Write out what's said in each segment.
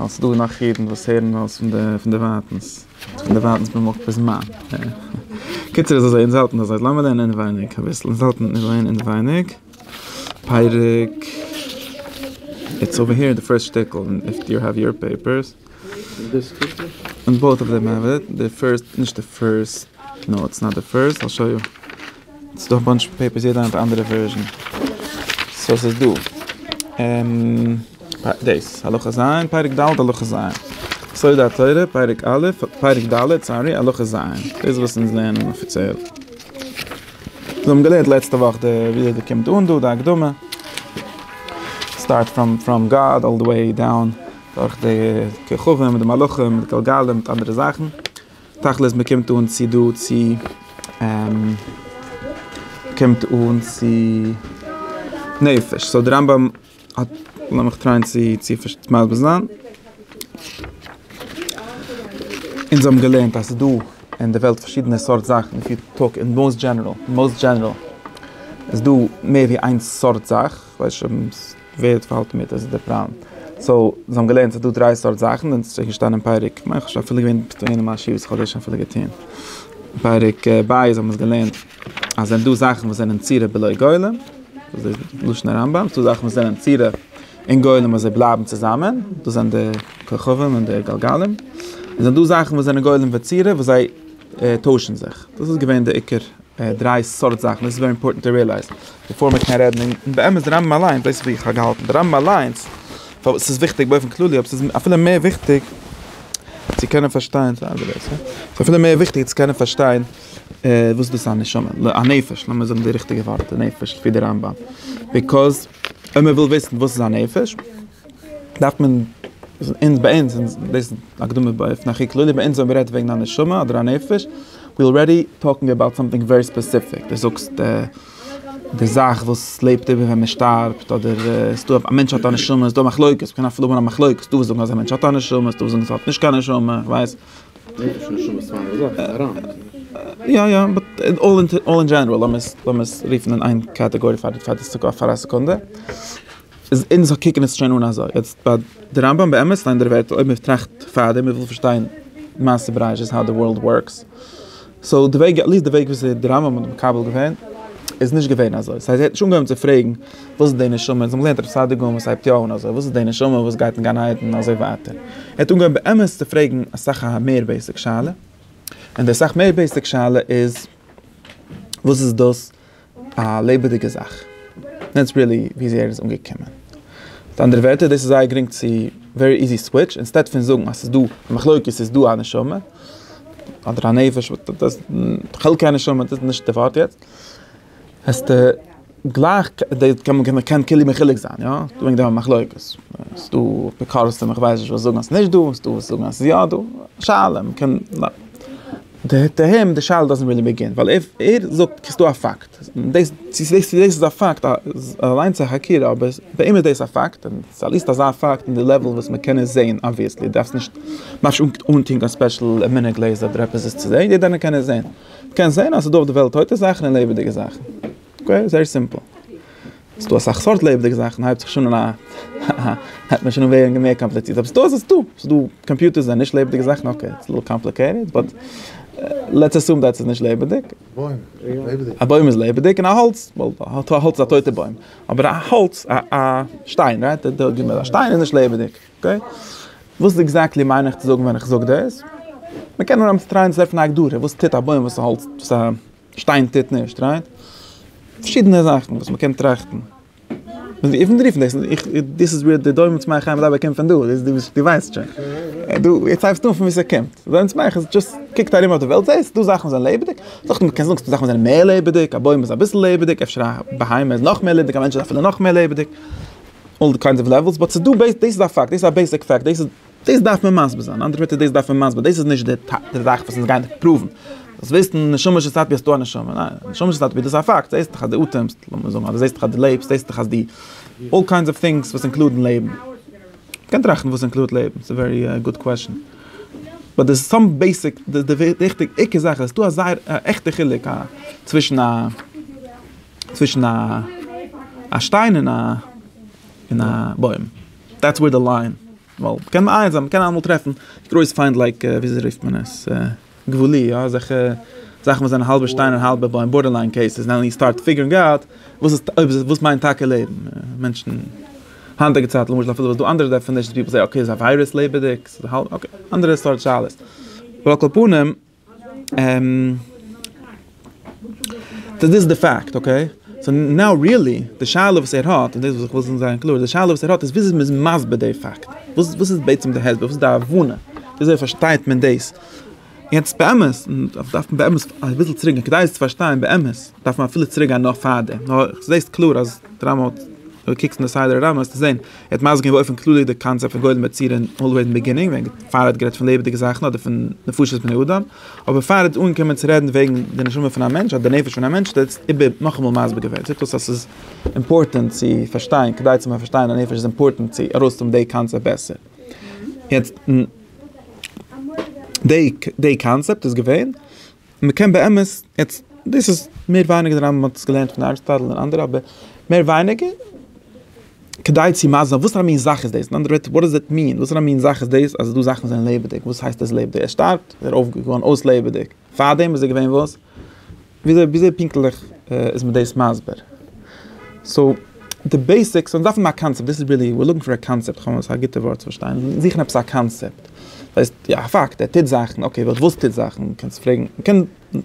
אלס ס'איז דא גענאך אידן וואס הערן אלס פון די ווייטענס, פון די ווייטענס במקום פון זמן. קיצור איז אזוי, אונז האלטן אזוי, לאמיר לערנען אינעווייניג אביסל, אונז האלטן אינעווייניג אינעווייניג, פרק, איטס אווער העיר די פירסט שטיקל, איף יו העוו יור פעיפערס, און בויט אוו דעם האב איט, די פירסט, נישט די פירסט, נאו איטס נאט די פירסט, איי שאו יו. ס'איז דא א באנטש פעיפערס יעדער האט א אנדערע ווערזשען סאו ס'איז דא דאס הלכה ז' פרק ד' הלכה ז' סוד התורה פרק א' פרק ד' סארי הלכה ז' דאס וואס אונז לערנען אפיציעל זיי האבן געלערנט לעצטע וואך די ווי אזוי קומט אן דא די הקדמה סטארט פראם פראם גאד אלל די וועי דאון דורך די כוכבים מיט די מלאכים מיט די גלגלים מיט אנדערע זאכן. תכלית מען קומט אן צו דא צו קומט אן צו נפש סאו די רמב ם האט לאמיך טרייען צו צו מסביר זיין. אונז האבן געלערנט אז ס'איז דא אין די וועלט פארשידענע סארט זאכן איף יו טאלק אין מאוסט דזשענעראל, מאוסט דזשענעראל, איז דא מער ווי איין סארט זאך. ווער האט פאלט מיט איז דער פריים סאו זיי האבן געלערנט ס'איז דא דריי סארט זאכן און ס'איז געשטאנען פרק כ'מיין כ'האב שוין אפילו געווען אין מיין שיעור וואס כ'האב דאס שוין אפילו געטוהן פרק בית האבן מיר געלערנט אז ס'זענען דא זאכן וואס זענען צורה בלא גולם וואס איז לשון הרמב ם ס'איז דא זאכן וואס זענען צורה אין גולם און זיי בלייבן צוזאמען דאס זענען די כוכבים און די גלגלים און ס'זענען דא זאכן וואס זענען גולם וצורה וואס זיי טוישן זיך דאס איז געווען די עיקר דריי סארט זאכן דאס איז ווערי אימפארטענט טו רילייז. בעפאר מען קען רעדן און באמת די רמב ם אליינס דאס איז ווי איך האב געהאלטן די רמב ם אליינס פארוואס ס'איז וויכטיג באופן כללי אבער ס'איז אפילו מער וויכטיג צו קענען פארשטיין ס'איז אפילו מער וויכטיג צו קענען פארשטיין וואס איז דאס א נשמה ל ע נפש לאמיר זאגן די ריכטיגע ווארט נפש לפי די רמב ם ביקאז אז מען וויל וויסן וואס איז א נפש דארף מען אונז ביי אונז אונז דאס הקדמה באופן הכי כללי ביי אונז ווען מ'רעדט וועגן א נשמה אדער א נפש ווי אלרעדי טאלקינג אבאוט סאמטינג ווערי ספעסיפיק די זאגסט די די זאך וואס לעבט איבער ווען מ'שטארבט אדער איז דא א מענטש האט א נשמה איז דא מחלוקת מ'קען אפילו האבן א מחלוקת ס'דא וואס זאגן אז א מענטש האט א נשמה איז דא וואס זאגן אז עס האט נישט קיין נשמה איך ווייס יא יא באט אלל אינטער אלל אין דזשענעראל לאמיר עס לאמיר עס רופן אין איין קאטעגארי פאר די פאר די פאר א סעקונדע. איז אונז קוקן עס שוין אן אזוי. יעצט ביי די רמבם באמת שטייען די ווערטער אויב מען טראכט פארדעם מען וויל פארשטיין מעשה בראשית האו די ווארלד ווארקס. סאו די וועג עטליסט די וועג וויאזוי די רמבם האט מקבל געווען איז נישט געווען אזוי. סא ער האט נישט אנגעהויבן צו פרעגן וואס איז די נשמה אונז האבן געלערנט רבי סעדיגון וואס הייבט יא אן אזוי וואס איז די נשמה וואס גייט אין גן עדן און אזוי ווייטער. ער האט אנגעהויבן באמת צו פרעגן אסאך א מער בעיסיק שאלה. און די אסאך מער בעיסיק שאלה איז וואס איז דאס א לעבעדיגע זאך. דעטס ריעלי וויאזוי ער איז אנגעקומען. מיט אנדערע ווערטער דאס איז זייער גרינג צו ווערי איזי סוויטש, אינסטעד פון זאגן אז ס'איז דא א מחלוקת ס'איז דא א נשמה אדער א נפש חלקי הנשמה דאס איז נישט די ווארט יעצט. העסטו גלייך מ'קען קלער מחולק זיין יא וועגן די מחלוקת. ס'איז דא אפיקורסים איך ווייס נישט וואס זאגן אז ס'איז נישט דא, ס'איז דא וואס זאגן אז ס'איז יא דא. שאלה מ'קען. די תהום, די שאלה דאזענט רילי ביגין, ווייל ער ער זאגט ס'איז דא א פאקט, דאס צו דאס צו דאס איז א פאקט אליינס א חקירה, אבער פאר אים איז דאס א פאקט, און ס'איז אליסט אזא פאקט אין די לעוועל וואס מ'קען עס זעהן אבוויעסלי, דארפסט נישט ממש אנטוהן קיין ספעשל מינע גלעזער אדער עפעס עס צו זעהן, יעדער איינער קען עס זעהן, מ'קען זעהן אז ס'איז דא אויף די וועלט טויטע זאכן און לעבעדיגע זאכן, אקעי, זייער סימפל. ס'איז דא אסאך סארט לעבעדיגע זאכן, הייבט זיך שוין אן א הייבט מען שוין אן ווערן מער קאמפליצירט, אבער ס'איז דא אזוי ס'איז דא, ס'איז דא קאמפיוטערס זענען נישט לעבעדיגע זאכן, אקעי איטס ליטעל קאמפליקעיטעד באט לעטס עסום דעט ס'איז נישט לעבעדיג. א בוים איז לעבעדיג און א האלץ, ווייל האלץ איז א טויטע בוים, אבער א האלץ א שטיין רייט א שטיין איז נישט לעבעדיג, אקעי? וואס עקזעקטלי מיין איך צו זאגן ווען איך זאג דאס? מ'קען נאר אמצער טרייען צו טרעפן א הגדרה, וואס טוט א בוים וואס א האלץ וואס א. שטיין טוט נישט רייט. פארשידענע זאכן וואס מ'קען טראכטן. דאס איז ווער די דומם צמח חיים מדבר קומט פון דא, דו ווייסט שוין. דו יעצט הייבסטו אן פון וואו ס'קומט. דומם צמח איז דשאסט קוקט ארום אויף די וועלט זעהסט דא זאכן וואס זענען לעבעדיג. זאכן מ'קען זאגן ס'דא זאכן וואס זענען מער לעבעדיג. א בוים איז אביסל לעבעדיג. אפשר א בהמה איז נאך מער לעבעדיג. א מענטש איז אפילו נאך מער לעבעדיג. אלל די קיינדס אוו לעוועלס. באט ס'דא בעיס. דאס איז א פאקט. דאס איז א בעיסיק פאקט. דאס איז. דאס דארף מען מסביר זיין, אנדערע ווערטער דאס דארף מען מסביר, דאס איז נישט די די זאך וואס אונז גייען דיך פראוון, דאס וויסן נשמה של סאטמער אז ס'דא א נשמה, ניין, נשמה של סאטמער דאס איז א פאקט, זעהסט דאך אז דו אטעמסט, לאמיר זאגן אז דו זעהסט דאך אז דו לעבסט, זעהסט דאך אז די אלל קיינדס אוו טינגס וואס אינקלודן לעבן, מ'קען טראכטן וואס אינקלודט לעבן, ס'איז ווערי גוד קוועשאן, באט די סאם בעיסיק די די וויכטיג עיקר זאך איז ס'דא א זייער א עכטע חילוק א צווישן א צווישן א א שטיין און א און א בוים. דעטס וועיר די ליין, ווייל קען מען איינזען, מ'קען אלעמאל טרעפן גרויס פיינט לייק וויאזוי רופט מען עס? גבולי, יא אזעלכע זאכן וואס זענען האלבע שטיין און האלבע בוים, בארדערליין קעיסעס, נאו יו סטארט פיגערינג אוט וואס איז אויב איז עס וואס מיינט טאקע לעבן, מענטשן היינטיגע צייט למשל אפילו וואס דא אנדערע דעפענישענס פיפל זעי אקעי ס'איז א וויירוס לעבעדיג, אקעי אנדערע סארט שאלות, אבער על כל פנים. דאס איז די פאקט, אקעי? סאו נאו ריעלי, די שאלה וואס ער האט, און דאס וואס איך וויל זיין קלאר, די שאלה וואס ער האט איז וויאזוי מ'איז מסביר די פאקט. וואס וואס איז בעצם די הסבר? וואס איז די הבנה? וויאזוי פארשטייט מען דאס? יעצט באמת, און דאס דארף מען באמת אביסל צוריקגיין כדי עס צו פארשטיין באמת, דארף מען אפילו צוריקגיין נאך פאר דעם. נאר איך זעה עס קלאר אז די רמב ם האט, אויב דו קוקסט אין די סדר הרמב ם וועסטו זען ער האט מסביר געווען באופן כללי די קאנצעפט פון גולם יצירים אלוועיס אין ביגינינג ווען פאר ער האט גערעדט פון לעבעדיגע זאכן אדער פון נפשות בני אדם אבער פאר ער האט אנגעקומען צו רעדן וועגן די נשמה פון א מענטש אדער די נפש פון א מענטש האט ער עס איבער נאכאמאל מסביר געווען זעט אויס אז ס'איז אימפארטענט צו פארשטיין כדי צו פארשטיין א נפש איז אימפארטענט צו ארויסהאבן די קאנצעפט בעסער יעצט די קאנצעפט איז געווען. מען קען באמת, יעצט דאס איז מער ווייניגער די רמב ם האט עס געלערנט פון אריסטאטל און אנדערע אבער מער ווייניגער כדי צו מסביר זיין וואס פאר א מין זאך איז דאס, אין אנדערע ווערטער וואט דאז איט מין, וואס פאר א מין זאך איז דאס אז דא זאכן זענען לעבעדיג, וואס הייסט עס לעבעדיג, ער שטארבט, ער אויף געווארן אויס לעבעדיג, פארדעם איז ער געווען וואס? וויאזוי וויאזוי פונקטליך איז מען דאס מסביר? סאו די בעיסיקס אונז דארפן א קאנצעפט, דאס איז ריעלי, ווער לוקינג פאר א קאנצעפט, א גוטע ווארט צו פארשטיין, זיכן עפעס א קאנצעפט, דאס הייסט. יא א פאקט, ער טוט זאכן, אקעי באט וואס טוט זאכן? קענסט פרעגן, מ'קען,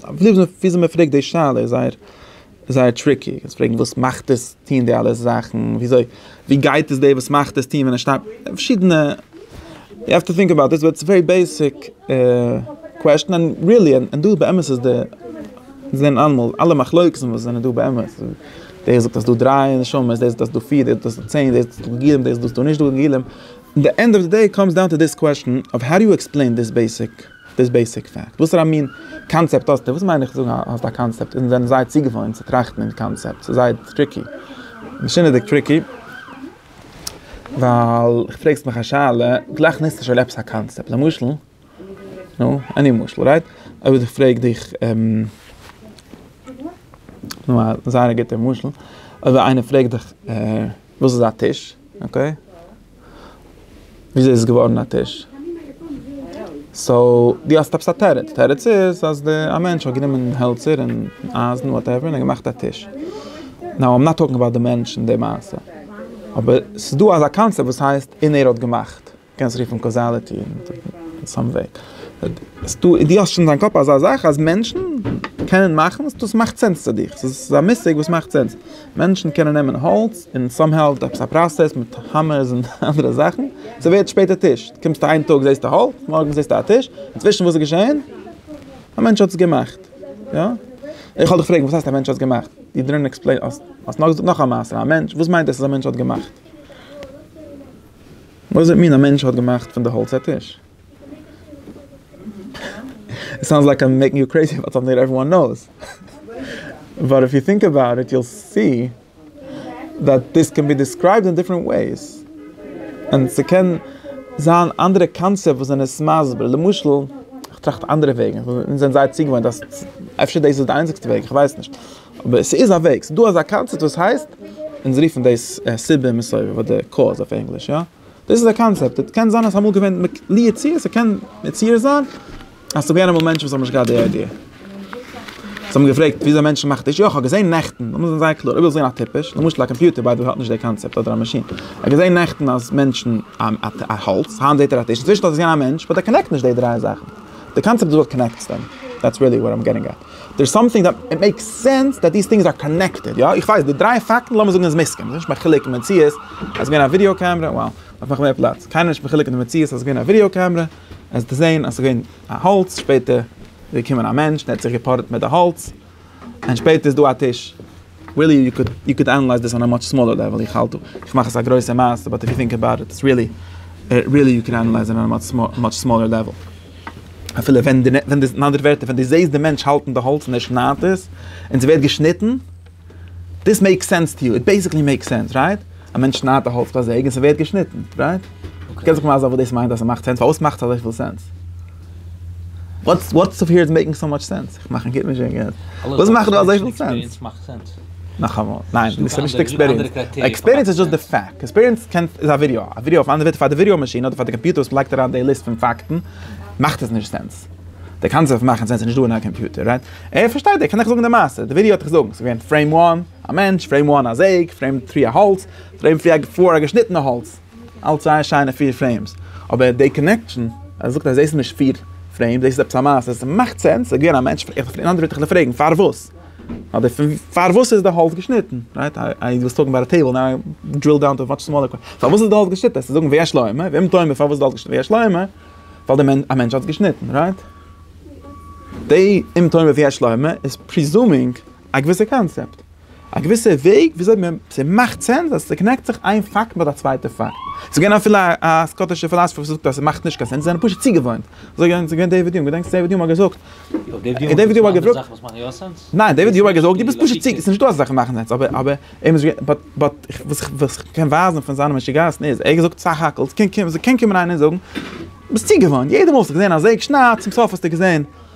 וויאזוי מ'פרעגט די שאלה איז זייער זייער טריקי, קענסט פרעגן וואס מאכט עס טוהן די אלע זאכן, וויאזוי, ווי גייט עס דער וואס מאכט עס טוהן ווען ער שטייט, פארשידענע, יו העוו טו טינק אבאוט דיס, באט ס'איז א ווערי בעיסיק קוועסטשן, און ריעלי, און דא באמת איז די, מיר זעהן אלעמאל, אלע מחלוקת'ן וואס זענען דא באמת, דער זאגט אז ס'איז דא דריי נשמות, דער זאגט אז ס'איז דא פיר, דער זאגט אז ס'איז דא צען, דער זאגט אז ס'איז דא גלגלים, דער זאגט אז ס'איז דא נישט דא גלגלים, אין די ענד אוו די דעי קאמס דאון טו דיס קוועשטען אוו האו דו יו עקספלעין דיס בעיסיק דיס בעיסיק פעקט, וואסערא מין קאנצעפט האסטו, וואס מיין איך צו זאגן האסט א קאנצעפט, אונז זענען זייער צוגעוואוינט צו טראכטן אין קאנצעפטס, ס'איז זייער טריקי, משונה'דיג טריקי, ווייל פרעגסט מיך א שאלה, גלייך ניצט ער שוין עפעס א קאנצעפט, למשל. נו, עני משל, רייט? אויב איך פרעג דיך, נו א זייער א גוטער משל, אויב איינער פרעגט דיך וואס איז א טיש, אקעי? וויאזוי איז עס געווארן א טיש? סאו, דו האסט עפעס א תירוץ, תירוץ איז אז די, א מענטש האט גענומען העלצער און אייזן וואטעווער און געמאכט א טיש. נאו איים נאט טאלקינג אבאוט די מענטש און די מעשה. אבער ס'איז דא אזא קאנצעפט וואס הייסט און ער האט געמאכט. קענסט רופן קאזאליטי אין סאם וועי. דו האסט שוין אין דיין קאפ אזא זאך אז מענטשן קענען מאכן עס, דאס מאכט סענס צו דיך, ס'איז ס'איז א מושג וואס מאכט סענס. מענטשן קענען נעמען האלץ און סאם האו עפעס א פראסעס מיט האמערס און אנדערע זאכן, ס'ווערט שפעטער טיש. קומסטו איין טאג זעסטו האלץ, מארגן זעסטו א טיש, אינצווישן וואס איז געשען? א מענטש האט עס געמאכט. יא? איך וועל דיך פרעגן, וואס הייסט א מענטש האט געמאכט? יו דידנט עקספלעין, האסט נאך געזאגט נאך א מעשה, א מענטש, וואס מיינט עס אז א מענטש האט געמאכט? וואס זעט מין א מענטש האט געמאכט פון די האלץ א טיש? איט סאונדס לייק איים מעיקינג יו קרעיזי באט סאמהאו עוועריוואן נאוס באט איף יו טינק אבאוט איט יו סי דעט דיס קען בי דיסקרייבד אין דיפרענט וועיס און ס'קען זיין אנדערע קאנצעפט וואס זענען עס מסביר למשל כ'טראכט אנדערע וועגן אונז זענען זייער צוגעוואוינט אז אפשר דאס איז די איינציגסטע וועג כ'ווייס נישט. אבער ס'איז א וועג, ס'דא אזא קאנצעפט וואס הייסט, אונז רופן דאס סיבה און מסובב אדער קאוז אויף ענגליש יא, דאס איז א קאנצעפט, און קען זיין אז ס'אמאל געווען לי יצוייר ס'קען מציאות זיין אז ס'געווען אמאל מענטשן וואס האבן נישט געהאט די איידיע, זיי האבן געפרעגט וויאזוי מענטשן מאכן טישן, יא כ'האב געזען נעכטן, לאמיר זיין זייער קלאר, אויב ווילסט זען א טיפש, למשל א קאמפיוטער ביי די וועי האט נישט די קאנצעפט אדער א מאשין, כ'האב געזען נעכטן אז מענטשן א האלץ, היינט זעט ער א טיש, אינצווישן האט עס געזען א מענטש, באט ער קאנעקט נישט די דריי זאכן, די קאנצעפט איז וואט קאנעקטס דעם, דעטס ריעלי וואט איים געטינג עט. דער סאמטינג דעט איט מעיקס סענס דעט דיס טינגס אר קאנעקטעד, יא איך ווייס די דריי פאקטן לאמיר זאגן איז מסכים, ס'איז נישט מחולק אין מציאות אז געווען א ווידיאו קעמרע, wow דארף מאכן מער פלאץ, קיינער איז נישט מחולק אין די מציאות אז געווען א ווידיאו קעמרע, עס דערזען אז ס'געווען א האלץ שפעטער איז געקומען א מענטש און ער האט זיך געפארעט מיט די האלץ, און שפעטער איז דא א טיש. ריעלי יו קוד יו קוד ענעלייז דיס אן א מאטש סמאלער לעוועל איך האלט דא איך מאך עס א גרויסע מעשה באט איף יו טינק אבאוט איט איטס ריעלי ריעלי יו קען ענעלייז אן א מאטש סמאלער לעוועל אפילו ווען די ווען די אין אנדערע ווערטער ווען די זעהסט די מענטש האלטן די האלץ און ער שניידט עס און ס'ווערט געשניטן דיס מעיקס סענס טו יו איט בעסיקלי מעיקס סענס רייט א מענטש שניידט די האלץ ביי א זעג און ס'ווערט געשניטן רייט קענסט זיך מזל וואס דאס מיינט אז ס'מאכט סענס פארוואס מאכט עס אזויפיל סענס. וואטס וואטס אויף היער איז מעיקינג סאו מאטש סענס? איך מאך כמעט נישט קיין געלט. וואס מאכט דא אזויפיל סענס? נאכאמאל, ניין, דו ביסט שוין נישט עקספיריענסד. עקספיריענס איז דזשאסט די פאקט. עקספיריענס קען, איז א ווידעא. א ווידעא אויף אן אנדערע ווערטער פאר די ווידעא מאשין אדער פאר די קאמפיוטער וואס לייגט אריין די ליסט פון פאקטן מאכט עס נישט סענס. די קאנצעפט פון מאכן סענס איז נישט דא אין א קאמפיוטער, רייט? ער פארשטייט, ער קען דיך זאגן די מעשה. די ווידעא האט דיך געזאגן. ס'איז געווען פרעים וואן א מענטש, פרעים וואן א זעג, פרעים טרי א האלץ, פרעים פרי פאר א געשניטענע האלץ. אלץ זייער שיינע פיר פרעימס, אבער די קאנעקשאן אז ער זאגט אז דאס איז נישט פיר פרעימס, דאס איז עפעס א מעשה, עס מאכט סענס, ס'איז געווען א מענטש, אין אנדערע ווערטער כ'וועל פרעגן פארוואס, אדער פון פארוואס איז די האלץ געשניטן, רייט? איי ווילסט טאלקן אבאוט א טעיבל, נאו דריל דאון טו מאטש סמאלער קווע, פארוואס איז די האלץ געשניטן, עסטו זאגן ויש לו אמה, ואם תאמר פארוואס איז די האלץ געשניטן, ויש לו אמה, ווייל די מענ א מענטש האט עס געשניטן, רייט? די אם תאמר ויש לו אמה איז פריזומינג א געוויסע קאנצעפט. א געוויסע וועג וויאזוי מען, ס'מאכט סענס אז ס'קאנעקט זיך איין פאקט מיט א צווייטע פאקט. ס'איז געווען אפילו א סקאטישע פילאזפער וואס האט געזאגט אז ס'מאכט נישט קיין סענס, זיי זענען פשוט צוגעוואוינט. אזוי געווען, ס'איז געווען דעיוויד יום, געדענקסט דעיוויד יום האט געזאגט, און דעיוויד יום האט געזאגט, ניין דעיוויד יום האט געזאגט דו ביסט פשוט צו, ס'איז נישטא אזא זאך מאכן סענס, אבער אבער אים איז געווען, באט באט וואס וואס איך קען ווייזן פון זיינע משוגעת'ן איז, ער האט געזאגט סך הכל, ס'קען קומען איינער און זאגן, ביסט צוגעוואוינט, יעדע מאל האסטו געזען א זעג שניידט, צום סוף האסטו געזען,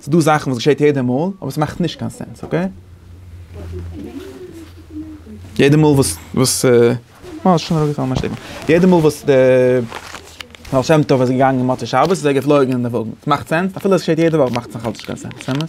ס'דא זאכן וואס געשעט יעדע מאל, אבער ס'מאכט נישט קיין סענס, אקעי? יעדע מאל וואס וואס אה, ס'שוין אראפגעפאלן מיין שטיקל. יעדע מאל וואס די בעל שם טוב איז געגאנגען מוצאי שבת איז ער געפלויגן אין די וואגן. ס'מאכט סענס? אפילו עס געשעט יעדע וואך מאכט עס נאכאלץ נישט קיין סענס, אמת?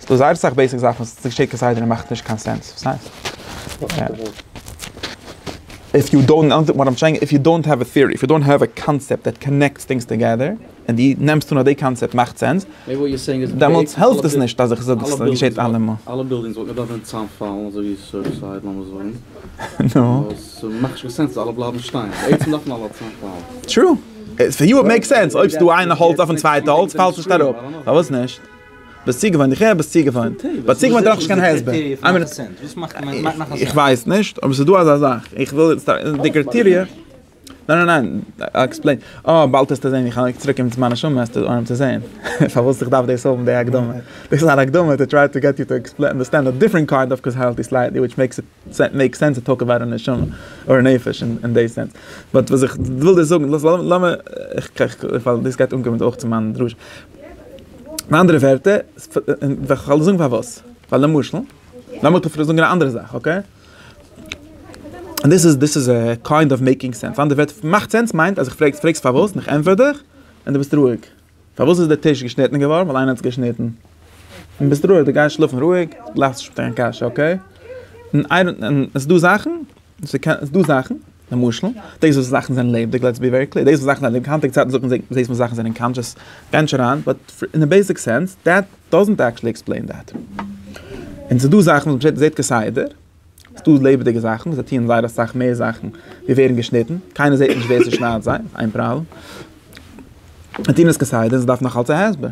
ס'איז דא זייער אסאך בעיסיק זאכן וואס די שטערט כסדר און מאכט נישט קיין סענס, וואס הייסט? איף יו דאונט נאו וואט איים סעינג, איף יו דאונט האוו א טיערי, איף יו דאונט האוו א קאנצעפט דעט קאנעקטס טינגס טאגעדער, און די נעמסט אן אז די קאנצעפט מאכט סענס, דעמאלטס העלפט עס נישט אז איך זאג עס געשעט אלעמאל. ביסט צוגעוואוינט, איך הער ביסט צוגעוואוינט, ביי צוגעוואוינט דארף איך נישט קיין הסבר, איך ווייס נישט אבער ס'איז דא אזא זאך, איך וויל יעצט די קריטעריע, ניין ניין ניין, איי עקספלעין, אה באלד העסטו זען איך לייג צוריק מיט מיין נשמה העסטו אנהייבן צו זען, פארוואס איך דארף דאס האבן די הקדמה, דאס איז אן הקדמה טו טריי טו געט יו טו עקספלעין אנדערסטענד א דיפרענט קאינד אוו קאזאליטי סלייטלי וויטש מעיקס איט מעיק סענס צו טאלק אבאוט א נשמה אדער נפש אין די סענס. באט וואס איך וויל דיר זאגן, לאמיר, ווייל דאס גייט אנקומען אויך צו מיין דרשה. אין אנדערע ווערטער, כ'וועל זאגן פארוואס. ווייל למשל, לאמיר דיר אפילו זאגן א אנדערע זאך, אקעי? און דאס איז, דאס איז קיינד אוו מעיקינג סענס. אין אנדערע ווערטער, מאכט סענס מיינט אז איך פרעג, פרעגסט פארוואס און איך ענטפער דיך און דו ביסט רואיג. פארוואס איז די טיש געשניטן געווארן? ווייל איינער האט עס געשניטן. און ביסט רואיג, דו גייסט שלאפן רואיג, גלייך זיך נישט מיט קיין קשיא, אקעי? און איי דאנט, און עס איז דא זאכן, עס איז דא זאכן, למשל, דאס וואס זאכן זענען לעבעדיג, לעטס בי ווערי קלער, דאס וואס זאכן זענען לעבעדיג, היינטיגע צייטן זאגט מען זעט מען זאכן זענען קאנטשעס, גיי נישט אריין, באט אין א בעיסיק סענס, דעט דאזענט עקטשעלי עקספלעין דעט. און עס איז דא זאכן וואס מען זעט כסדר. ס'דא לעבעדיגע זאכן, זיי טוען זייער אסאך מער זאכן ווי ווערן געשניטן, קיינער זעט נישט ווער ס'שניידט זיי, איז איין פראבלעם. זיי טוען עס כסדר און ס'דארף נאך אלס א הסבר.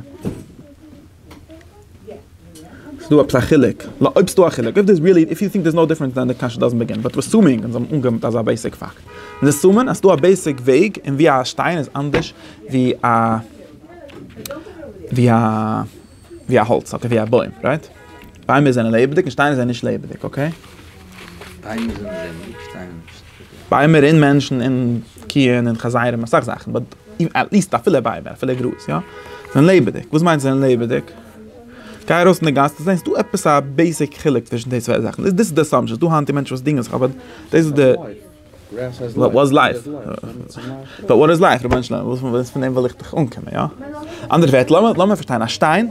ס'דא עפעס א חילוק? לא, אויב ס'דא א חילוק, אויב דאס איז ריעלי, איף יו טינק דער'ס נאו דיפרענס דען די קשיא דאזענט בעגין, באט ווער אסומינג, אונז האבן אנגענומען אזא בעיסיק פאקט, אונז אסומען אז ס'דא א בעיסיק וועג און ווי א שטיין איז אנדערש ווי א ווי א. ווי א האלץ, אקעי ווי א בוים, רייט? ביימער זענען לעבעדיג און שטיינער זענען נישט לעבעדיג, אקעי? ביימער זענען לעבעדיג, שטיינער נישט. ביימער און מענטשן און קיען און חזירים אסאך זאכן, באט עטליעסט אפילו ביימער אפילו גראז יא? זענען לעבעדיג, וואס מיינט זענען לעבעדיג? גיי ארויס אין די גאס דו זעסט דא עפעס א בעיסיק חילוק צווישן די צוויי זאכן, דאס איז די אסאמפשען, ס'איז דא היינט מענטשן וואס דינגען זיך אבער דאס איז די. וואט וואס לייף? וואט וואט איז לייף? רבונו של עולם, וואס פון דעם וויל איך דיך אנקומען, יא? אנדערע ווערטער, לאמיר לאמיר פארשטיין, א שטיין,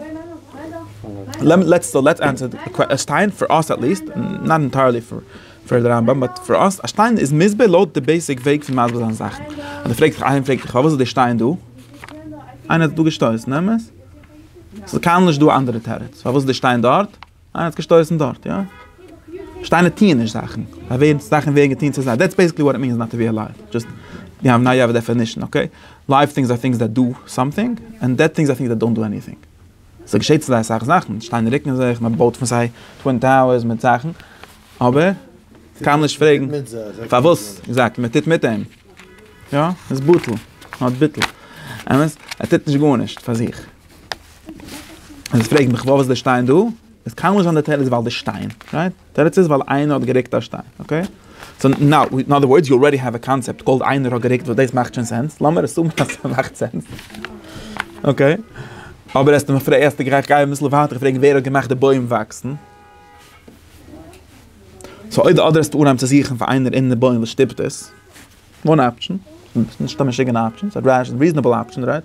לעטס לעטס ענטפער די קווע, א שטיין, פאר אויס עט ליעסט, נאט אינטייערלי פאר פאר די רמב ם, באט פאר אויס, א שטיין איז מסביר לויט די בעיסיק וועג פון מסביר זיין זאכן. אז דו פרעגסט דיך איינער פרעגט דיך פארוואס איז די שטיין דא? איינער האט עס דא געשטויסן, אמת? ס'איז קיינמאל נישט דא א אנדערע תירוץ פארוואס איז די שטיין דארט. אה, ער האט געשטויסן דארט, יא? שטיינער טוען נישט זאכן, זיי ווערן, זאכן ווערן געטון צו זיי, דעטס בעיסיקלי וואט איט מינס נאט טו בי אלייוו, דזשאסט די האב נאו אדער דעפענישן, אקעי? לייוו טינגס אר טינגס דעט דא סאמטינג, ענד דעט טינגס אר טינגס דעט דאנט דא עניטינג. ס'געשעט צו זיי אסאך זאכן, שטיינער רוקן זיך, מען בויט פון זיי טווין טאוערס מיט זאכן, אבער קיינמאל נישט פרעגן פארוואס, עקזעקטלי, מען טוט מיט אים, יא? עס איז בטל, נאט ביטל, אמת? ער טוט נישט גארנישט פאר זיך. און עס פרעגט מיך וואס איז די שטיין דא? עס קאן נישט זיין די תירוץ ווייל די שטיין, רייט? די תירוץ איז ווייל איינער האט געריקט א שטיין, אקעי? סאו נאו, אין אדער ווארדס יו אלרעדי האוו א קאנצעפט קאלד איינער האט געריקט וואס דאס מאכט שוין סענס, לאמיר אסומען אז עס מאכט סענס, אקעי? אבער האסט מיר פרעגט, איך גיי אביסל ווייטער, איך פרעג ווער האט געמאכט די בוים וואקסן? סאו אויב די אדער האסט אנהייבן צו זוכן פאר איינער אין די בוים וואס שטופט עס, וואן אפשן, נישט א משוגענע אפשן, ס'איז א ריזענעבל אפשן, רייט?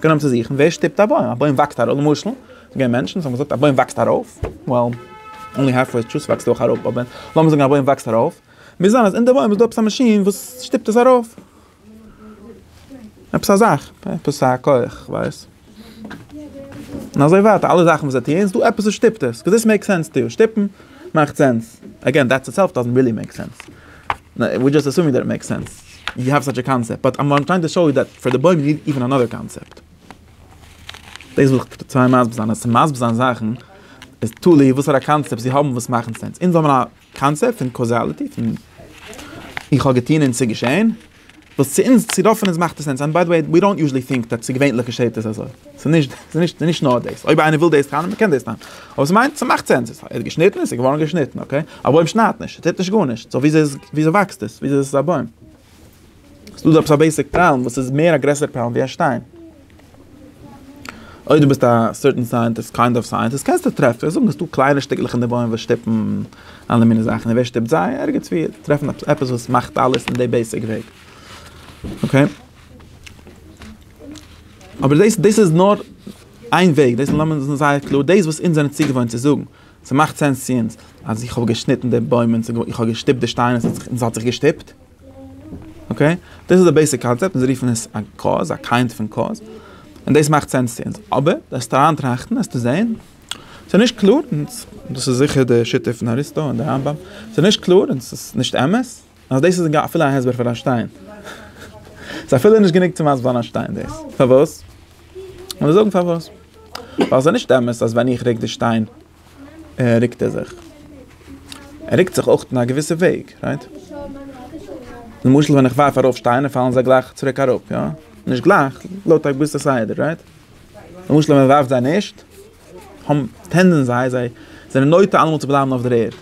גענומען צו זוכן ווער שטופט א בוים, א בוים וואקסט ארויף, למשל ס'געווען מענטשן וואס האבן געזאגט א בוים וואקסט ארויף, well only half way truth וואקסט אויך ארויף, אבער לאמיר זאגן א בוים וואקסט ארויף, מוז זיין אז אין די בוים איז דא עפעס א מאשין וואס שטופט עס ארויף, עפעס א זאך, עפעס א כח, כ'ווייס, און אזוי ווייטער, אלע זאכן וואס זיי טוען איז דא עפעס וואס שטופט עס, קאוז דיס מעיקס סענס טא יו, שטופן מאכט סענס, עגעין דעטס איטסעלף דאזענט ריעלי מעיק סענס, וויר דזשאסט עסומינג דעט איט מעיקס סענס. ווי האב סאטש א קאנסעפט באט איים טרייען טו שאו יו דעט פאר די בוים יו ניד איווען אנאדער קאנסעפט. דאס וויל איך טרייען מסביר זיין אז צו מסביר זיין זאכן איז תלוי וואסערע קאנסעפט זיי האבן וואס מאכן סענס אונז האבן א קאנסעפט פון קאזאליטי פון איך האב געטון און ס'איז געשען וואס צו אונז צו רוב פון אונז מאכט עס סענס אנד ביי די וועי ווי דאנט יוזשעלי טינק דעט צו געווענליך געשעט עס אזוי. ס'איז נישט נאר דאס. אויב איינער וויל דאס טענה'ן, מען קען דאס טענה'ן. אבער ס'מיינט, ס'מאכט סענס. עס איז געשניטן, עס איז געווארן געשניטן, אקעי? א בוים שניידט נישט, עס טוט נישט גארנישט. סאו וויאזוי וואקסט עס? וויאזוי איז עס א בוים? ס'איז דא עפעס א בעיסיק פראבלעם וואס איז מער א גרעסערע פראבלעם ווי א שטיין. אויב דו ביסט א סערטען סייענטיסט, קיינד אוו סייענטיסט, קענסטו טרעפן, זאגן ס'דא קליינע שטיקלעך אין די בוים וואס שטופן אלע מיני זאכן. און ווער שטופט זיי? ערגעץ ווי טרעפן עפעס וואס מאכט אלעס אין די בעיסיק וועג. אקעי? אבער דאס דאס איז נאר איין וועג, דאס לאמיר זאגן זייער קלאר, דאס וואס אונז זענען צוגעוואוינט צו זאגן, ס'מאכט סענס צו אונז, אז איך האב געשניטן די בוים און איך האב געשטופט די שטיין און ס'האט זיך געשטופט, אקעי? דאס איז די בעיסיק קאנצעפט, אונז רופן עס א קאוז, א קיינד פון קאוז, און דאס מאכט סענס צו אונז. אבער וועסטו אריינטראכטן וועסטו זען, ס'איז נישט קלאר, און דאס איז זיכער די שיטה פון אריסטו און די רמב ם, ס'איז נישט קלאר און ס'איז נישט אמת, אז דאס איז אפילו א הסבר פאר א שטיין. ס'איז אפילו נישט גענוג צו מסב'רן א שטיין דאס. פארוואס? לאמיר זאגן פארוואס. ווייל ס'איז נישט אמת אז ווען איך רוק די שטיין רוקט ער זיך. ער רוקט זיך אויך אין א געוויסע וועג, רייט? למשל ווען איך ווארף ארויף שטיינער פאלן זיי גלייך צוריק אראפ, יא? נישט גלייך, לויט א געוויסע סדר, רייט? למשל ווען מ'ווארפט זיי נישט, טענדען זיי, זיי זענען נוטה אלעמאל צו בלייבן אויף דער ערד.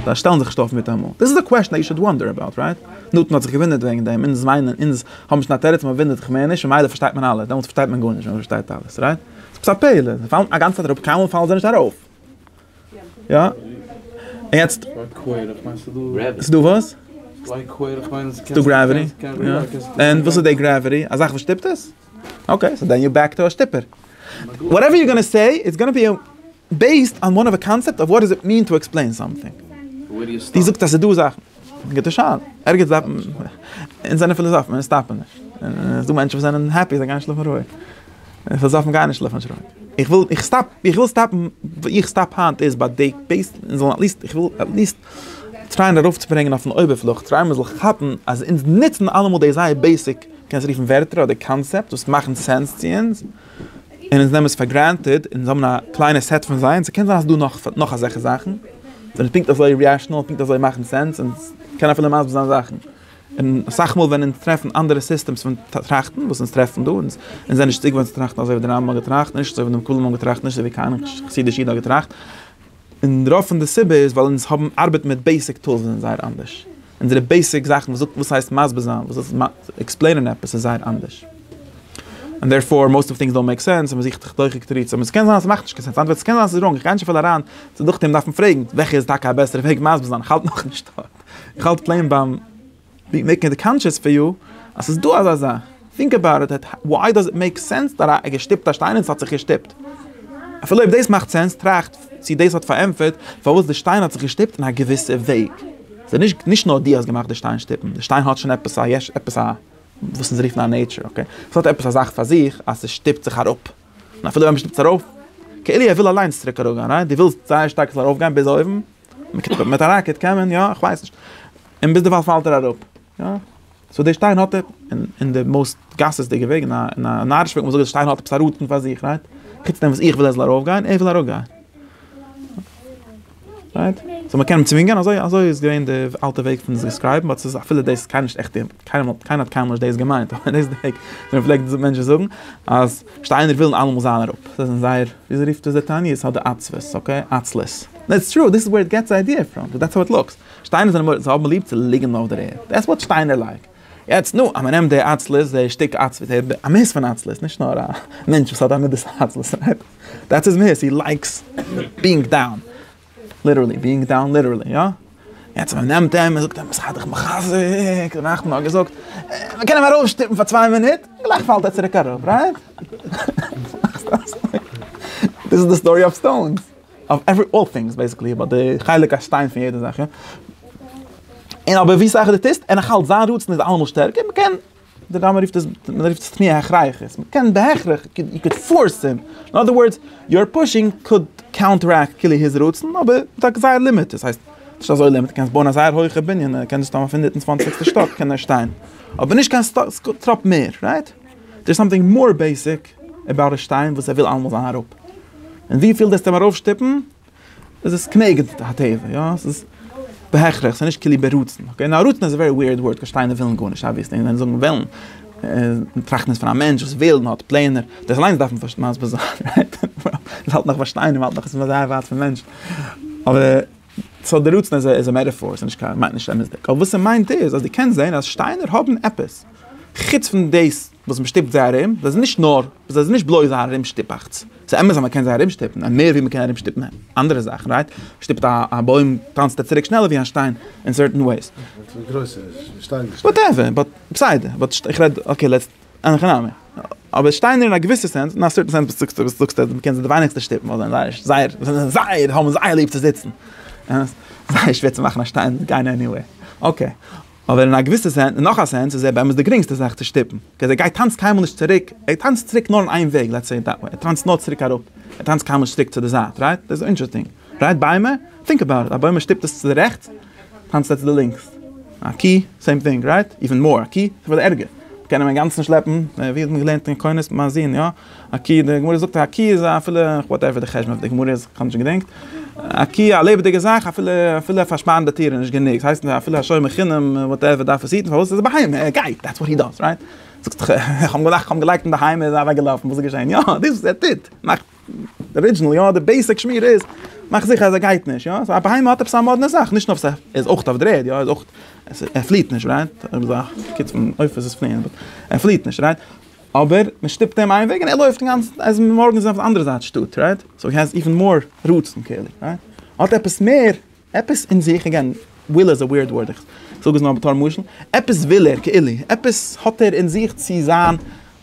זיי שטעלן זיך נישט אויף מיטאמאל. דיס איז א קוועשאן יו שוד וואנדער אבאוט, רייט? נתן האט זיך געוואונדערט וועגן דעם, אונז וויינען, אונז האבן נישט קיין תירוץ, מען וואונדערט זיך מער נישט, ממילא פארשטייט מען אלעס, דעמאלטס פארשטייט מען גארנישט ווען מען פארשטייט אלעס, רייט? ס'איז עפעס א פלא, זיי פאלן אגאנצע צייט אראפ, קיינמאל פאלן זיי נישט ארויף. יא? און יעצט? ס'איז דא וואס? ס'איז דא גראוויטי. און וואס איז די גראוויטי? א זאך וואס שטופט עס? אקעי, סאו דען יו בעק טו א שטופער. וואטעווער יו גאנא סעי איטס גאנא בי בעיסד אן וואן אוו א קאנצעפט אוו וואט דאז איט מין טו עקספלעין סאמטינג. דו זאגסט אז ס'איז דא זאכן. גוטע שאלה. ערגעץ דארף מען. אונז זענען פיליזאפן, אונז סטאפן נישט. ס'איז דא מענטשן וואס זענען העפי, זיי גייען שלאפן רואיג. פיליזאפן גייען נישט שלאפן נישט רואיג. איך וויל, איך סטאפ, איך וויל סטאפן, וואו איך סטאפ היינט איז ביי די בעיס, אונז זאלן עטליעסט, איך וויל עטליעסט. טרייען ארויפצוברענגען אויפן אויבערפלאך, טרייען מען זאל כאפן אז אונז נוצן אלעמאל די זייער בעיסיק, קענסט רופן ווערטער אדער קאנצעפטס וואס מאכן סענס צו אונז, און אונז נעמען עס פאר גרענטעד, אונז האבן א קליינע סעט פון זיי, און ס'קען זיין אז ס'דא נאך נאך אזעלכע זאכן, וואס זענען פונקט אזוי רעאשנעל און פונקט אזוי מאכן סענס, אונז קענען אפילו מסביר זיין זאכן, און אסאך מאל ווען אונז טרעפן אנדערע סיסטעמס פון טראכטן וואס אונז טרעפן דא, אונז זענען נישט צוגעוואוינט צו טראכטן אזוי ווי די רמב ם האט געטראכט, נישט אזוי ווי די מקובלים האבן געטראכט, נישט אזוי ווי כהנא חסידי שיטה האט געטראכט. און רוב פון די סיבה איז ווייל אונז האבן ארבעט מיט בעיסיק טולס וואס זענען זייער אנדערש. אונזערע בעיסיק זאכן וואס זאגט וואס הייסט מסביר זיין, וואס הייסט עקספלעינען עפעס איז זייער אנדערש. און דערפאר מאוסט אוו טינגס דאנט מעיק סענס און מען זוכט תחתיכיג תירוצים. עס קען זיין אז עס מאכט נישט קיין סענס. אנטווארט, עס קען זיין עס איז ראנג. איך גיי נישט צופיל אריין. ס'איז דורך דעם דארף מען פרעגן וועלכע איז טאקע א בעסערע וועג מסביר זיין. איך האלט נאכנישט דארט. איך האלט פלעין ביים. ווי מעקן איט קאנטשעס פאר יו אז ס'איז דא אזא זאך. טינק עבאוט איט, וואי דאז איט מעיק סענס דאט א געשטופט א שטיין און ס'האט זיך געשטופט? אפילו אויב דאס מאכט סענס, טראכט צי דאס האט פארענטפערט פארוואס די שטיין האט זיך געשטופט אין א געוויסע וועג. ס'איז נישט נישט נאר דו האסט געמאכט די שטיין שטופן, די שטיין האט שוין עפעס א יש, עפעס א וואס אונז רופן א נעיטשער, אקעי? ס'האט עפעס א זאך פאר זיך אז ס'שטופט זיך אראפ. און אפילו ווען מ'שטופט עס ארויף, כאילו ער וויל אליינס צוריק אראפגיין, רייט? דו ווילסט זייער שטארק עס זאל ארויפגיין ביז אויבן. מיט א ראקעט קען מען יא? איך ווייס נישט. און ביזדערווייל פאלט ער אראפ. יא. סאו דער שטיין האט אין די מאוסט גסות'דיגע וועג אין א נארישע וועג, וואס דער שטיין האט עפעס א ראטן פאר זיך, רייט? חוץ דעם וואס איך וויל ער זאל ארויפגיין, ער וויל אראפגיין. רייט? סאו מ'קען אים צווינגען? אזוי אזוי איז געווען די אלטע וועג פון עס דעסקרייבן, באט ס'איז אפילו דאס קיינער נישט עכט, קיינער האט קיינמאל נישט דאס געמיינט, אבער דאס איז די וועג ווי מ'פלעגט מענטשן זאגן אז. שטיינער ווילן אלעמאל זיין אראפ, זיי זענען זייער, וויאזוי רופט עס דער תענית? האט די עצבות, אקעי? עצלות. דעטס טרו, דיס איז וועיר איט געטס די איידיע פראם, דעטס האו איט לוקס. שטיינער זענען מורא'דיג, זיי האבן ליב צו ליגן אויף דער ערד, דעטס וואט שטיינער לייק. יעצט, נו, אז מען נעמט די עצלות, די שטיק עצבות, די מהות פון עצלות, נישט נאר א מענטש וואס האט א מידת העצלות'ערהייט, דעטס היז מהות, הי לייקס בינג דאון, ליטערלי, ביאינג דאון ליטערלי, יא? יעצט מען נעמט אים, מען זאגט אים, זיי דיך מחזק, די נחמן האט געזאגט, מען קען אים ארויסשטופן פאר צוויי מינוט, גלייך פאלט ער צוריק אראפ, רייט? דיס איז די סטארי אויף סטאונס, אויף עווערי אלל טינגס בעיסיקלי, אבער די חלק א שטיין פון יעדע זאך, יא? און אבער ווי סאך דו טוסט, און נאכאלץ זיין רצון איז אלעמאל שטערקער, מען קען. די רמ א רופט עס, מען רופט עס תמיהה הכרחית, מען קען בהכרח, יו קען פארס הים, אין אדער ווארדס, יור פושינג קאוד קאונטערעקט כאילו היז רצון, אבער מיט א גזירה לימיט, דאס הייסט, נישט אזוי לימיט, קענסט בויען א זייער הויכע בנין, ער קען דאס טון אויף הונדערט און צוואנציגסטע שטאק קען ער שטיין, אבער נישט קיין טראפ מער, רייט? דער איז סאמטינג מאר בעיסיק עבאוט א שטיין וואס ער וויל אלעמאל זיין אראפ, און וויפיל דאס טאר מען ארויפשטופן, איז עס כנגד הטבע, יא? עס איז בהכרח, עס איז נישט כליל ברצון, אקעי? נאר רצון איז א ווערי וויערד ווארד, געשטייענע ווילן גארנישט אבוויעסלי, און ווען זאגן ווילן, און טראכטן איז פון א מענטש וואס וויל און האט פלענער, דאס אליינס דארף מען מסביר זיין, רייט? מען האלט נאך ביי שטיינער, מען האלט נאך עס איז זייער ווייט פון מענטשן, אבער סאו דער רצון איז א מעטאפאר, עס איז נישט קיין, מיינט נישט אמת'דיג, אבער וואס ער מיינט איז אז דו קענסט זען אז שטיינער האבן עפעס, חוץ פון דאס. וואס מ'שטופט זיי ארום, זיי זענען נישט נאר, זיי זענען נישט בלויז א ארומשטופאכץ, ס'איז אמת אז מ'קען זיי ארומשטופן, און מער ווי מ'קען ארומשטופן אנדערע זאכן, רייט? מ'שטופט א בוים טאנצט ער צוריק שנעלער ווי א שטיין אין סערטען וועיס. וואטעווער, באט בסדר, באט איך רעד, אקעי לעטס, אין הכי נמי. אבער שטיינער אין א געוויסע סענס, אין א סערטען סענס וואס זאגסטו, וואס זאגסטו אז מ'קען זיי די ווייניגסטע שטופן ווייל זיי זענען זייער, זיי זענען זייער, האבן זייער ליב צו זיצן. זייער שווער צו מאכן א שטיין גיין עניוועיר. אקעי. אבער אין א געוויסע סענס, אין נאך א סענס, איז ער באמת די גרינגסטע זאך צו שטופן, קעז ער גייט טאנצט קיינמאל נישט צוריק, ער טאנצט צוריק נאר אין איין וועג, לעטס סעי איט דעט וועי, ער טאנצט נאר צוריק אראפ, ער טאנצט קיינמאל נישט צוריק צו די זייט, רייט? דאס איז אינטרעסטינג, רייט? ביימער? טינק אבאוט איט, א בוים ער שטופט עס צו די רעכטס, טאנצט ער צו די לינקס, א קי, סעים טינג, רייט? איווען מאר, א קי, ס'איז פארט ערגער, מ'קען אים אינגאנצן שלעפן, ווי האט מען געלערנט אין קונס, מ'האזין, יא? א קי, די גמרא זאגט א קי איז אפילו, וואטעווער די חשבון אויף די גמרא איז, כ'האב נישט געדענקט, א קי א לעבעדיגע זאך אפילו אפילו א פארשפארנדע טיר איז נישט גענוג, ס'הייסט נישט אפילו א שומר חינם וואטעווער דארף עס היטן פארוואס איז א בהמה ער גייט דעטס וואט הי דאז רייט, זאגסט איך האב געדאכט איך האב אים געלייגט אין בהמה איז ער אוועק געלאפן וואס איז געשען יא דאס וואס ער טוט מאכט די ארידזשענעל יא די בעיסיק שמירה איז מאך זיכער אז ער גייט נישט יא סאו א בהמה האט עפעס א מאדנע זאך נישט נאר ס'העלפט ער איז אויך אויף די ערד יא ער איז אויך ער פליעט נישט רייט ער איז א קיט פון עופות וואס פליען ער פליעט נישט רייט אבער מען שטופט אים איין וועג און ער לויפט אינגאנצן אז מארגן איז אויף די אנדערע זייט שטאט רייט סאו הי העז איווען מאר רצון כאילו רייט האט עפעס מער עפעס אין זיך אגעין וויל איז א ווירד ווארד איך זאג עס נאר בתור משל עפעס וויל ער כאילו עפעס האט ער אין זיך צו זיין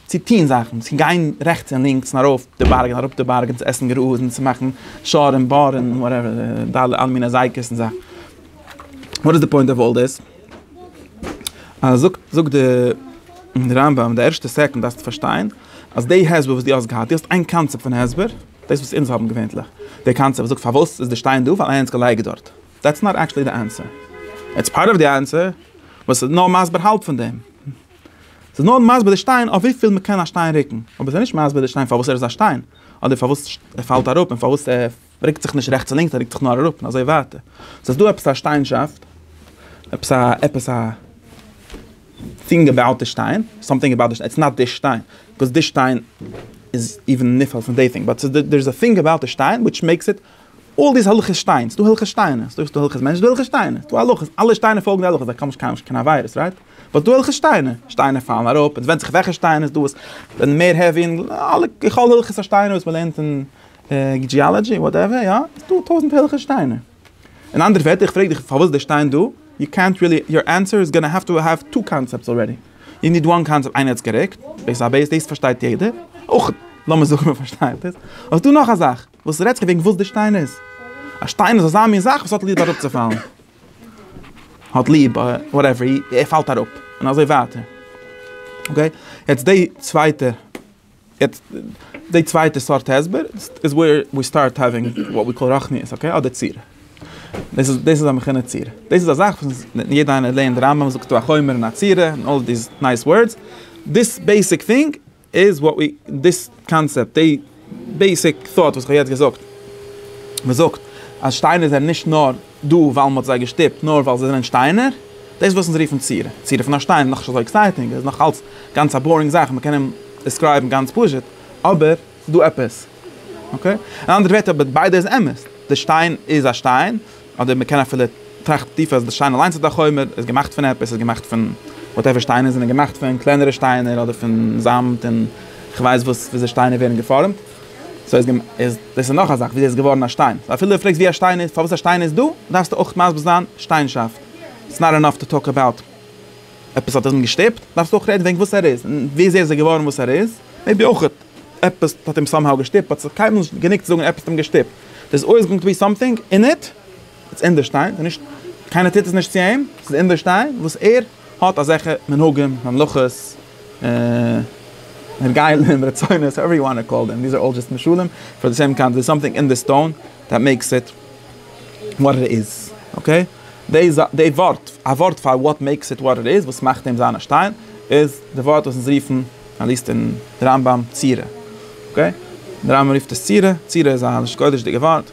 צו טוהן זאכן צו גיין רעכטס און לינקס און ארויף די בארג און אראפ די בארג און צו עסן גראז און צו מאכן שאר און באר און וואטעווער די אלע אלע מיני אזייקעס און זאכן וואט איז די פוינט אוו אלל דיס? אז זאגט זאגט די רמב ם די ערשטע סעקונד דארפסטו פארשטיין אז די הסבר וואס די האסט געהאט די האסט איין קאנצעפט פון הסבר דאס וואס אונז האבן געווענטליך די קאנצעפט זאגט פארוואס איז די שטיין דא ווייל איינער האט עס געלייגט דארט דעטס נאט עקטשעלי די ענסער איטס פארט אוו די ענסער וואס איז נאר מסביר האלב פון דעם ס'איז נאר מסביר די שטיין אויף וויפיל מ'קען א שטיין רוקן אבער ס'איז נישט מסביר די שטיין פארוואס ער איז א שטיין אדער פארוואס ער פאלט אראפ און פארוואס ער מ'רוקט זיך נישט רעכטס און לינקס, מ'רוקט זיך נאר אראפ און אזוי ווייטער. ס'איז דא עפעס א שטיינשאפט, עפעס א, עפעס א טינג אבאוט די שטיין, סאמטינג אבאוט די שטיין, איטס נאט די שטיין, ביקאוז די שטיין איז איבן נפעל פון די טינג, באט ס'איז דא, דער איז א טינג אבאוט די שטיין וויטש מעיקס איט, אלל דיס הלכות שטיין, ס'איז דא הלכות שטיינער, ס'איז דא הלכות מענטשן, ס'איז דא הלכות שטיינער, ס'איז דא הלכות, אלע שטיינער פאלגן די הלכות, זיי קאמען נישט קיין עבירות, רייט? באט ס'איז דא הלכות שטיינער, שטיינער פאלן אראפ, עס ווענדט זיך וועלכע שטיינער, ס'איז דא וואס זענען מער העווי, און אלע, ככל הלכות השטיינער וואס מ'לערנט אין ג'יאלאדזשי וואטעווער יא, איז דא טויזענט הערליכע שטיינער. אין אנדערע ווערטער איך פרעג דיך פארוואס די שטיין דא, יו קענט ריעלי, יור ענסער איז גאנא העוו טו העוו טו קאנצעפטס אלרעדי, יו ניד וואן קאנצעפט איינער האט עס גערוקט, בעיס א בעיס דאס פארשטייט יעדער, אויך לאמיר זאגן מען פארשטייט עס, אבער ס'דא נאך א זאך, וואס רעדסטו וועגן וואס די שטיין איז? א שטיין איז אזא מין זאך וואס האט ליב אראפצופאלן, האט ליב וואטעווער, ער פאלט אראפ, און אזוי ווייטער. אקעי, יעצט די צווייטע יעצט די צווייטע סארט הסבר איז וועיר ווי סטארט האווינג וואט ווי קאל רחניות אקעי אדער ציר. דאס איז דאס איז א מכינה ציר. דאס איז א זאך וואס יעדע איינער לערנט די רמב ם זאגט דא א חומר און א ציר און אלל דיס נייס ווארדס. דיס בעיסיק טינג איז וואט ווי דיס קאנצעפט די בעיסיק טאט וואס כ'האב יעצט געזאגט. מ'זאגט אז שטיינער זענען נישט נאר. דא ווייל מען האט זיי געשטופט נאר ווייל זיי זענען שטיינער? דאס איז וואס אונז רופן צירה. צירה פון א שטיין איז נאך נישט אזוי עקסייטינג, עס איז נאך אלץ גאנץ א בארינג זאך, מען קען אים דיסקרייבן גאנץ פשוט, אבער ס'איז דא עפעס. אקעי? אין אנדערע ווערטער, אבער ביידע איז אמת, די שטיין איז א שטיין, אדער מען קען אפילו טראכטן טיפער אז די שטיין אליינס איז א חומר, איז געמאכט פון עפעס, איז געמאכט פון וואטעווער שטיינער זענען געמאכט פון קלענערע שטיינער אדער פון זאמד און כ'ווייס וואס וויאזוי שטיינער ווערן געפארעמט. סאו איז געמ איז דאס איז נאך א זאך וויאזוי איז געווארן א שטיין סאו אפילו פרעגסט ווי א שטיין איז פארוואס א שטיין איז דא דארפסטו אויך מסביר זיין שטיינשאפט איטס נאט אינאף טו טאלק אבאוט עפעס האט אים געשטופט דארפסטו אויך רעדן וועגן וואס ער איז און וויאזוי איז ער געווארן וואס ער איז מעיבי אויך עפעס האט אים סאמהאו געשטופט באט ס'איז קיינמאל נישט גענוג צו זאגן עפעס האט אים געשטופט דערס אלוועיס גאוינג טו בי סאמטינג אין איט. עס איז אינדערשטיין, עס איז נישט, קיינער טוט עס נישט צו אים, עס איז אינדערשטיין וואס ער האט אזעלכע מנהגים, ממלכות, הרגלים, רצונות, האועווער יו וואנט טו קאל דעם, דיז אר אלל דזשאסט משלים, פאר די סעם קאנט דער איז סאמטינג אין די סטאון דעט מעיקס איט וואט איט איז, אקעי? די זא די ווארט, א ווארט פאר וואט מעיקס איט וואט איט איז, וואס מאכט אים זיין א שטיין, איז די ווארט וואס אונז רופן, מען ליזט אין רמב ם, צירה, אקעי? דער רמב ם רופט עס צירה, צירה איז א לשון קודש'דיגע ווארט.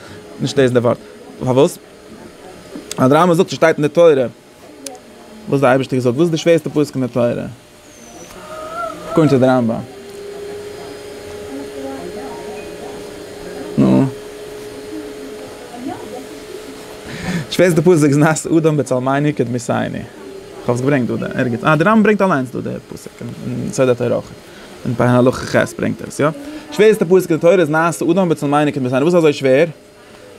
נישט לעזן די ווארט. פארוואס? ווייל די רמב ם זאגט ס'שטייט אין די תורה וואס די אייבערשטער געזאגט. וואס איז די שווערסטע פסוק אין די תורה? אקארדינג טו די רמב ם. נו. די שווערסטע פסוק איז נעשה אדם בצלמינו כדמי סייני. כ'האב עס געברענגט דא ערגעץ. אה, די רמב ם ברענגט אליינס דא די פסוק אין סוד התורה אויך. און פאר הלכה ח' ברענגט ער עס יא. שווערסטע פסוק אין תורה איז נעשה אדם בצלם אלוקים וואס איז אזוי שווער?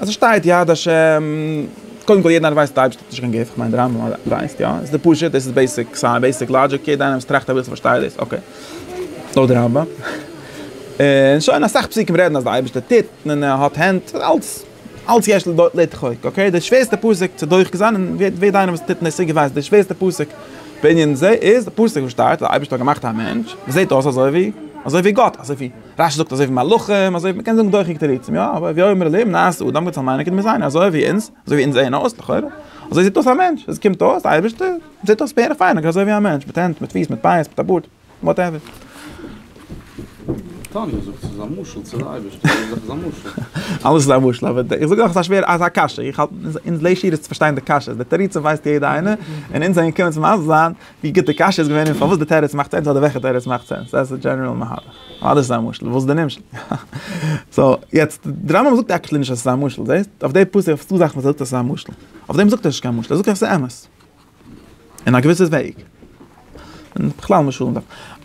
אז עס שטייט יד ה', קודם כל יעדער איינער ווייסט אז דער אייבערשטער האט נישט קיין גוף, כ'מיין דער רמב ם ווייסט יא, עס איז פשוט, דאס איז בעיסיק סייענס, בעיסיק לאגיק, יעדער איינער וואס טראכט אביסל פארשטייט דאס, אקעי. לויט די רמב ם. און שוין, אסאך פסוקים רעדן אז דער אייבערשטער טוט, און ער האט הענט, אלס. אלץ יש לו לדחוק, אקעי, די שווערסטע פסק צו דוחק זיין, און ווער ווער דיינער וואס טוט אין עסק ווייסט, די שווערסטע פסק בענין זה איז די פסוק וואס שטייט אז דער אייבערשטער האט געמאכט א מענטש וואס זעט אויס אזוי ווי אזוי ווי גאט, אזוי ווי רש י זאגט אזוי ווי מלאכים, אזוי ווי מ'קען זאגן דוחק תירוצים יא, אבער הוי אומר אליהם נעשה אדם גוט זאל מיינען כדי מיר זענען אזוי ווי אונז, אזוי ווי אונז זעען אויס לכאורה, אזוי זעט אויס א מענטש, אזוי קומט אויס די אייבערשטער זעט אויס בערך פיין אזוי ווי א מענטש, מיט הענט מיט פיס מיט פאות מיט א בארד. וואטעווער. תניא זאגט ס'איז א משל צו די אייבערשטער, יעדע זאך איז א משל. אלעס איז א משל, אבער איך זאג אויך ס'איז א שווערע, אזא קשיא, איך האלט אונז ליישי אידעס צו פארשטיין די קשיות, די תירוצים ווייסט יעדע איינער, און אונז זענען געקומען צו מסביר זיין ווי גוט די קשיא איז געווען און פארוואס די תירוץ מאכט סענס אדער וועלכע תירוץ מאכט סענס, דעס איז די דזשענעראל מהלך. אלעס איז א משל, וואס איז די נמשל? סאו, יעצט, די רמב ם זאגט עקשעלי נישט אז ס'איז א משל, זעהסט? אויף די פסוק, אויף צו זאכן וואס ער זאגט אז ס'איז א משל. אויף דעם זאגט ער ס'איז קיין משל, ער זאגט עס איז אמת. אין א געוויסע וועג. און בכלל משלים דארף.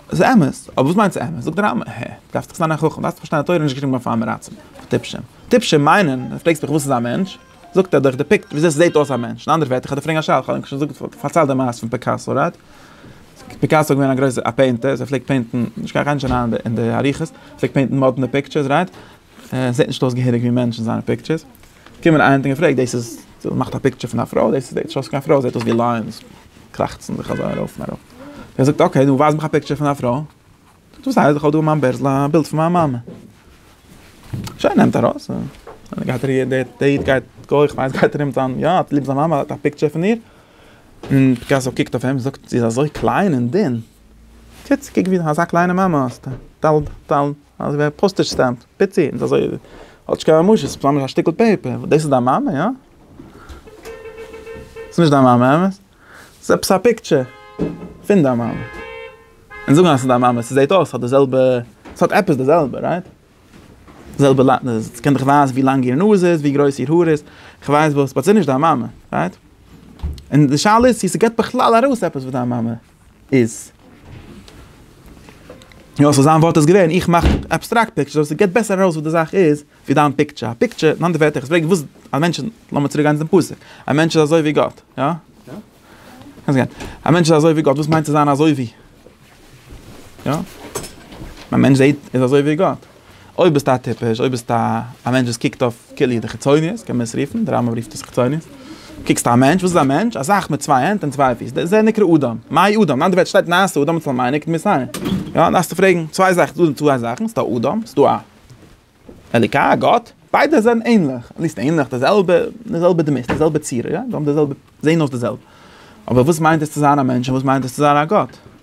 ס'איז אמת, אבער וואס מיינט ס'אמת? זאגט די רמב ם, הער, דארפסט דאך זיין א חכם, דארפסט פארשטיין אז תורה איז נישט געשריבן אויף פאר מרצים, אויף טיפשים. טיפשים מיינען, אז פרעגסט מיך וואס איז א מענטש? זאגט ער דאך דעפיקט וויאזוי ס'זעט אויס א מענטש. אין אנדערע ווערטער, כ'האב דיר פארענגט א שאלה, כ'האב ענק שוין געזאגט, פארציילט די מעשה פון פיקאסא, רייט? פיקאסא איז געווען א גרויסער א פעינטער, און ער פלעגט פעינטן, נישט קיין, כ'גיי נישט אריין אין די אריכות, ער פלעגט פעינטן מאדנע פיקטשערס, רייט? זעט נישט אויס געהעריג ווי מענטש אין זיינע פיקטשערס, קומען איינער האט אים געפרעגט דאס איז מאכט א פיקטשער פון א פרוי דאס זעט נישט אויס קיין פרוי זעט אויס ווי לייענס קראכצן זיך אזוי ארויף און אראפ, ער זאגט אקעי נו ווייז מיך א פיקטשער פון א פרוי, זאגט וואס הייסט איך האב דא אין מיין בערזל א בילד פון מיין מאמע, שוין נעמט ארויס און גייט ער דער איד גייט גוי כ'ווייס גייט ארום זיין יא האט ליב זיין מאמע האט א פיקטשער פון איר, און פיקאסא קוקט אויף אים זאגט זי איז אזוי קליין און דין, טוט קוק ווי אזא קליינע מאמע האסטו. אז ווער פאסטעדזש סטעמפ פיצי און אזוי האט נישט קיין ממשות ס'איז ממש א שטיקל פעיפער דאס איז דיין מאמע יא? ס'איז נישט דיין מאמע אמת? ס'איז עפעס א פיקטשער פון דיין מאמע און זאגן אז ס'איז דיין מאמע ס'זעהט אויס ס'האט די זעלבע ס'האט עפעס די זעלבע רייט? די זעלבע ס'קען דיך ווייזן ווי לאנג איר נאז איז ווי גרויס איר האר איז כ'ווייס וואס באט ס'איז נישט דיין מאמע רייט? און די שאלה איז צו ס'געבט בכלל ארויס עפעס וואס דיין מאמע. איז יא סאו זיין ווארט איז געווען איך מאך עבסטראקט פיקטשער סאו ס'געט בעסער ארויס וואס די זאך איז ווי דיין פיקטשער א פיקטשער אין אנדערע ווערטער איך פרעג וואס א מענטש איז לאמיר צוריק גיין צום פסוק א מענטש איז אזוי ווי גאט יא קענסט גיין א מענטש איז אזוי ווי גאט וואס מיינט צו זיין אזוי ווי יא א מענטש זעהט איז אזוי ווי גאט. אויב ביסטו א טיפש, אויב ביסטו א מענטש וואס קוקט אויף כולי די חיצוניות, קען מען עס רופן, די רמב ם רופט עס חיצוניות, קוקסט א מענטש, וואס איז א מענטש? א זאך מיט צוויי הענט און צוויי פיס, דער זה נקרא אדם, מהי אדם? אנדערע ווערטער שטייט נעשה אדם אצל מיינע כתמי סיני, יא? דארפסטו פרעגן, צוויי זאכן, ס'איז דא צוויי זאכן, ס'איז דא אדם, ס'איז דא א אלוקי, א גאט, ביידע זענען ענליך, נישט ענליך, די זעלבע, די זעלבע דמות, די זעלבע צורה, יא? זיי האבן די זעלבע, זעהן אויס די זעלבע, אבער וואס מיינט עס צו זיין א מענטש און וואס מיינט עס צו זיין א גאט?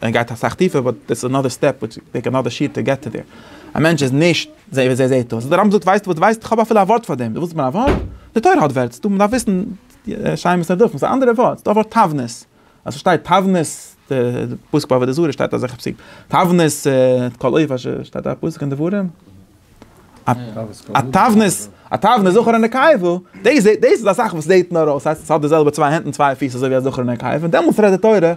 ער גייט אסאך טיפער באט דעס איז אנאדער סטעפ וויטש וויל טעיק אנאדער שיעור טו געט טו דער. א מענטש איז נישט אזוי ווי ער זעהט אויס. דער רמב ם זאגט ווייסטו וואס דו ווייסט? איך האב אפילו א ווארט פאר דעם. דו ווילסט מיין א ווארט? די תורה האט ווערטס. דו מען דארף וויסן שיימעס נער דופן. ס'איז א אנדערע ווארט. ס'איז דא א ווארט תבנית. אז ס'שטייט תבנית די פסוק ביי עבודה זרה שטייט אזעלכע פסוקים. תבנית את כל אויף אש שטייט א פסוק אין דברים. א תבנית, א תבנית זכר ונקבה, דאס דאס איז א זאך וואס זעט נאר אויס, ס'הייסט עס האט די זעלבע צוויי הענט און צוויי פיס אזוי ווי א זכר און א נקבה, און דעמאלטס רעדט די תורה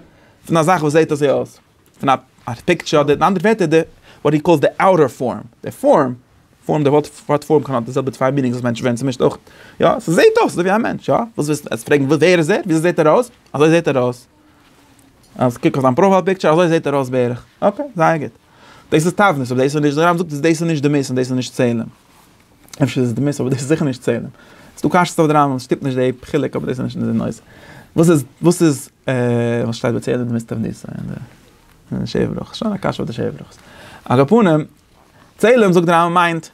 פון א זאך וואס זעט אזוי אויס, פון א א פיקטשער אדער אין אנדערע ווערטער די וואט הי קאלס די אוטער פארם, די פארם, פארם די ווארט ווארט פארם קען האבן די זעלבע צוויי מינינגס וואס מענטשן ווערן צומישט אויך, יא, ס'זעט אויס אזוי ווי א מענטש, יא, וואס ווילסטו עס פרעגן ווער איז ער? וויאזוי זעט ער אויס? אזוי זעט ער אויס. אז קוק אויף זיין פראפייל פיקטשער אזוי זעט ער אויס בערך, אקעי זייער גוט. דאס איז תבנית אבער דאס איז נישט, די רמב ם זאגט אז דאס איז נישט דמות און דאס איז נישט צלם. אפשר איז עס דמות אבער דאס איז זיכער נישט צלם. ס'איז דא קשיות אויף די רמב ם, ס'שטימט נישט די חילוק אבער דאס איז נישט די נושא. וואס איז וואס איז וואס שטייט ביי צלם דמות תבנית אין די אין די שבע ברכות? שוין א קשיא אויף די שבע ברכות. על כל פנים, צלם זאגט די רמב ם מיינט.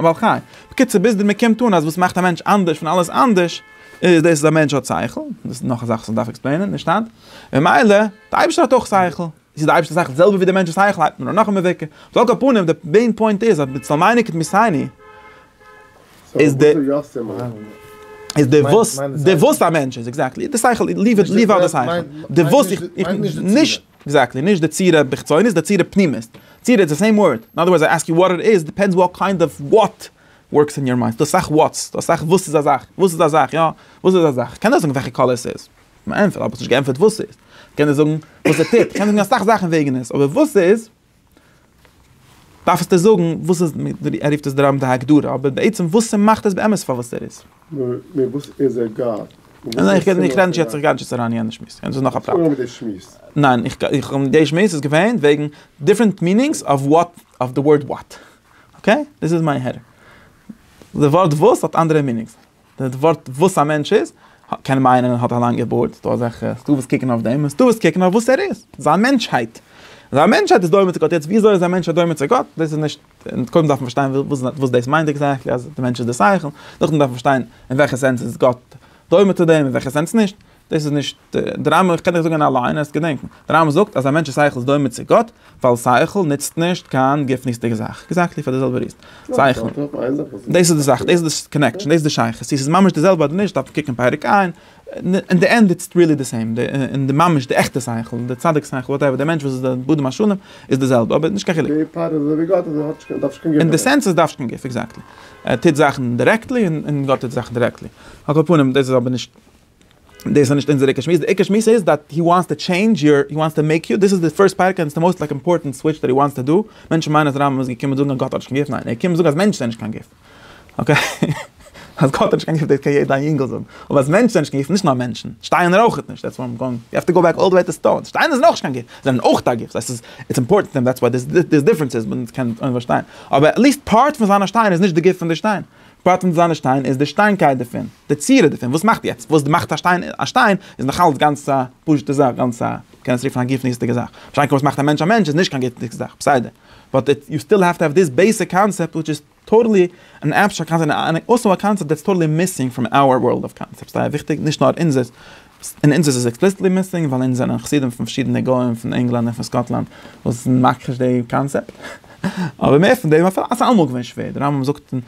א בעל חי. בקיצור ביז די מ'קומט אן אז וואס מאכט א מענטש אנדערש פון אלעס אנדערש איז דאס אז א מענטש האט שכל, דאס איז נאך א זאך וואס מ'דארף עקספלעינען, נישט היינט, ממילא די אייבערשטער האט אויך שכל, איז די אייבערשטער שכל די זעלבע ווי די מענטש'ס שכל הייבט מען אן נאך א מבוקר, על כל פנים די מעין פוינט איז אז בצל מייני כתמיסייני איז די איז די וואס די וואס א מענטש איז עקזעקטלי די שכל, ליוו אוט די שכל די וואס איך נישט. עקזעקטלי, נישט די צורה בחיצונית, די צורה פנימית. צורה איז די סעים ווארד. אין אדער ווארדס איי עסק יו וואט איט איז, דיפענדס וואט קיינד אוו וואט ווארקס אין יור מיינד. ס'דא אסאך וואטס, ס'דא אסאך וואס איז א זאך, וואס איז א זאך, יא, וואס איז א זאך. כ'קען דאך זאגן וועלכע קאלער ס'איז. כ'האב נישט געענטפערט וואס ס'איז. כ'קען דיר זאגן וואס ער טוט. כ'קען זאגן אסאך זאכן וועגן עס. אבער וואס ס'איז. דארף עס דיר זאגן וואס איז ער רופט עס דרמ ד הגדרה אבער בעצם וואס ס'מאכט עס באמת פאר וואס ער איז. נאר וואס איז ער גאר? ניין איך רעד נישט יעצט איך גיי נישט יעצט אריין אין יענע שמועס יענע איז נאך א פרט. פאר מיט די שמועס. ניין איך האב די שמועס איז געווען וועגן דיפרענט מינינגס אוו וואט אוו די ווארד וואט אקעי דאס איז מיין הערה די ווארט וואס האט אנדערע מינינגס. די ווארט וואס א מענטש איז, קען מיינען ער האט א לאנגע בארד, ס'דא אזעלכע, ס'דא וואס קוקן אויף דעם, און ס'דא וואס קוקן אויף וואס ער איז, זיין מענטשהייט. זיין מענטשהייט איז דומה צו גאט, יעצט וויאזוי איז א מענטש דומה צו גאט, דאס איז נישט, קודם דארף מען פארשטיין וואס דאס מיינט עקזעקטלי אז דער מענטש איז דער שכל, נאכדעם דארף מען פארשטיין אין וועלכע סענס איז גאט דומה צו דעם, אין וועלכע סענס נישט. דאס איז נישט די רמב ם, איך קען דיך זאגן אליין אז געדענקן, די רמב ם זאגט אז א מענטש'ס שכל איז דומה צו גאט, ווייל שכל נוצט נישט קיין גופנית'דיגע זאך, עקזעקטלי פאר די זעלבע ריזן, שכל, דאס איז די זאך, דאס איז די קאנעקשאן, דאס איז די שייכות, צו ס'איז ממש די זעלבע אדער נישט דארף מען קוקן פרק ע', אין די ענד איטס ריעלי די סעים, אין די ממש די עכטע שכל, די צדיק שכל, וואטעווער, די מענטש וואס איז די בדם השלם, איז די זעלבע, אבער נישט קיין חילוק. די פאר איז אזויווי גאט אזוי האט נישט, דארף נישט קיין גוף דערפאר. אין די סענס אז דארף נישט קיין גוף, עקזעקטלי, ער טוט זאכן דירעקטלי און גאט טוט זאכן דירעקטלי, על כל פנים דאס איז אבער נישט. דאס איז נישט אונזער עיקר שמועס, די עיקר שמועס איז דאט הי וואנטס טו טשעינדזש יור, הי וואנטס טו מעיק יו, דאס איז די פירסט פרק און עס איז די מאוסט לייק אימפארטענט סוויטש דאט הי וואנטס טו דא, מענטשן מיינען אז רמב ם איז געקומען זאגן אז גאט האט נישט קיין גוף, ניין ער איז געקומען זאגן אז מענטשן זענען נישט קיין גוף, אקעי? אז גאט האט נישט קיין גוף דאס קען יעדע איינגעל זאגן, אבער אז מענטשן זענען נישט קיין גוף, נישט נאר מענטשן, שטיינער אויכעט נישט, דעטס וואט איים גאוינג, יו העוו טו גאו בעק אלל די וועי טו סטאונס, שטיינער זענען אויך נישט קיין גוף, זיי זענען אויך א גוף, סא עס איז איטס אימפארטענט טו אים דעטס וואט דער דיפרענס איז, מען קען עס אויך פארשטיין, אבער עטליסט פארט פון זיין א שטיין איז נישט די גוף פון די שטיין. פרט אין זיינע שטיין איז די שטיינקייט דערפון, די צורה דערפון, וואס מאכט יעצט, וואס מאכט א שטיין א שטיין, איז נאכאלץ גאנץ א פשוט'ע זאך, גאנץ א, מ'קען עס רופן א גופניות'דיגע זאך. פארשטיין קען וואס מאכט א מענטש א מענטש איז נישט קיין גופניות'דיגע זאך, בסדר. באט איט, יו סטיל העוו טו העוו דיס בעיסיק קאנצעפט וויטש איז טאטעלי אן עבסטראקט קאנצעפט, און און און אויסאו א קאנצעפט דעטס טאטעלי מיסינג פראם אווער ווארלד אוו קאנצעפטס, ס'איז זייער וויכטיג, נישט נאר אונזערס, אין אונז איז עס עקספליסיטלי מיסינג ווייל אונז זענען חסידים פון פארשידענע גוים פון ענגלאנד און פון סקאטלאנד וואס זענען מכחיש די קאנצעפט. אבער מער פון דעם, אפילו אז ס'איז אלעמאל געווען שווער, די רמב ם זאגט און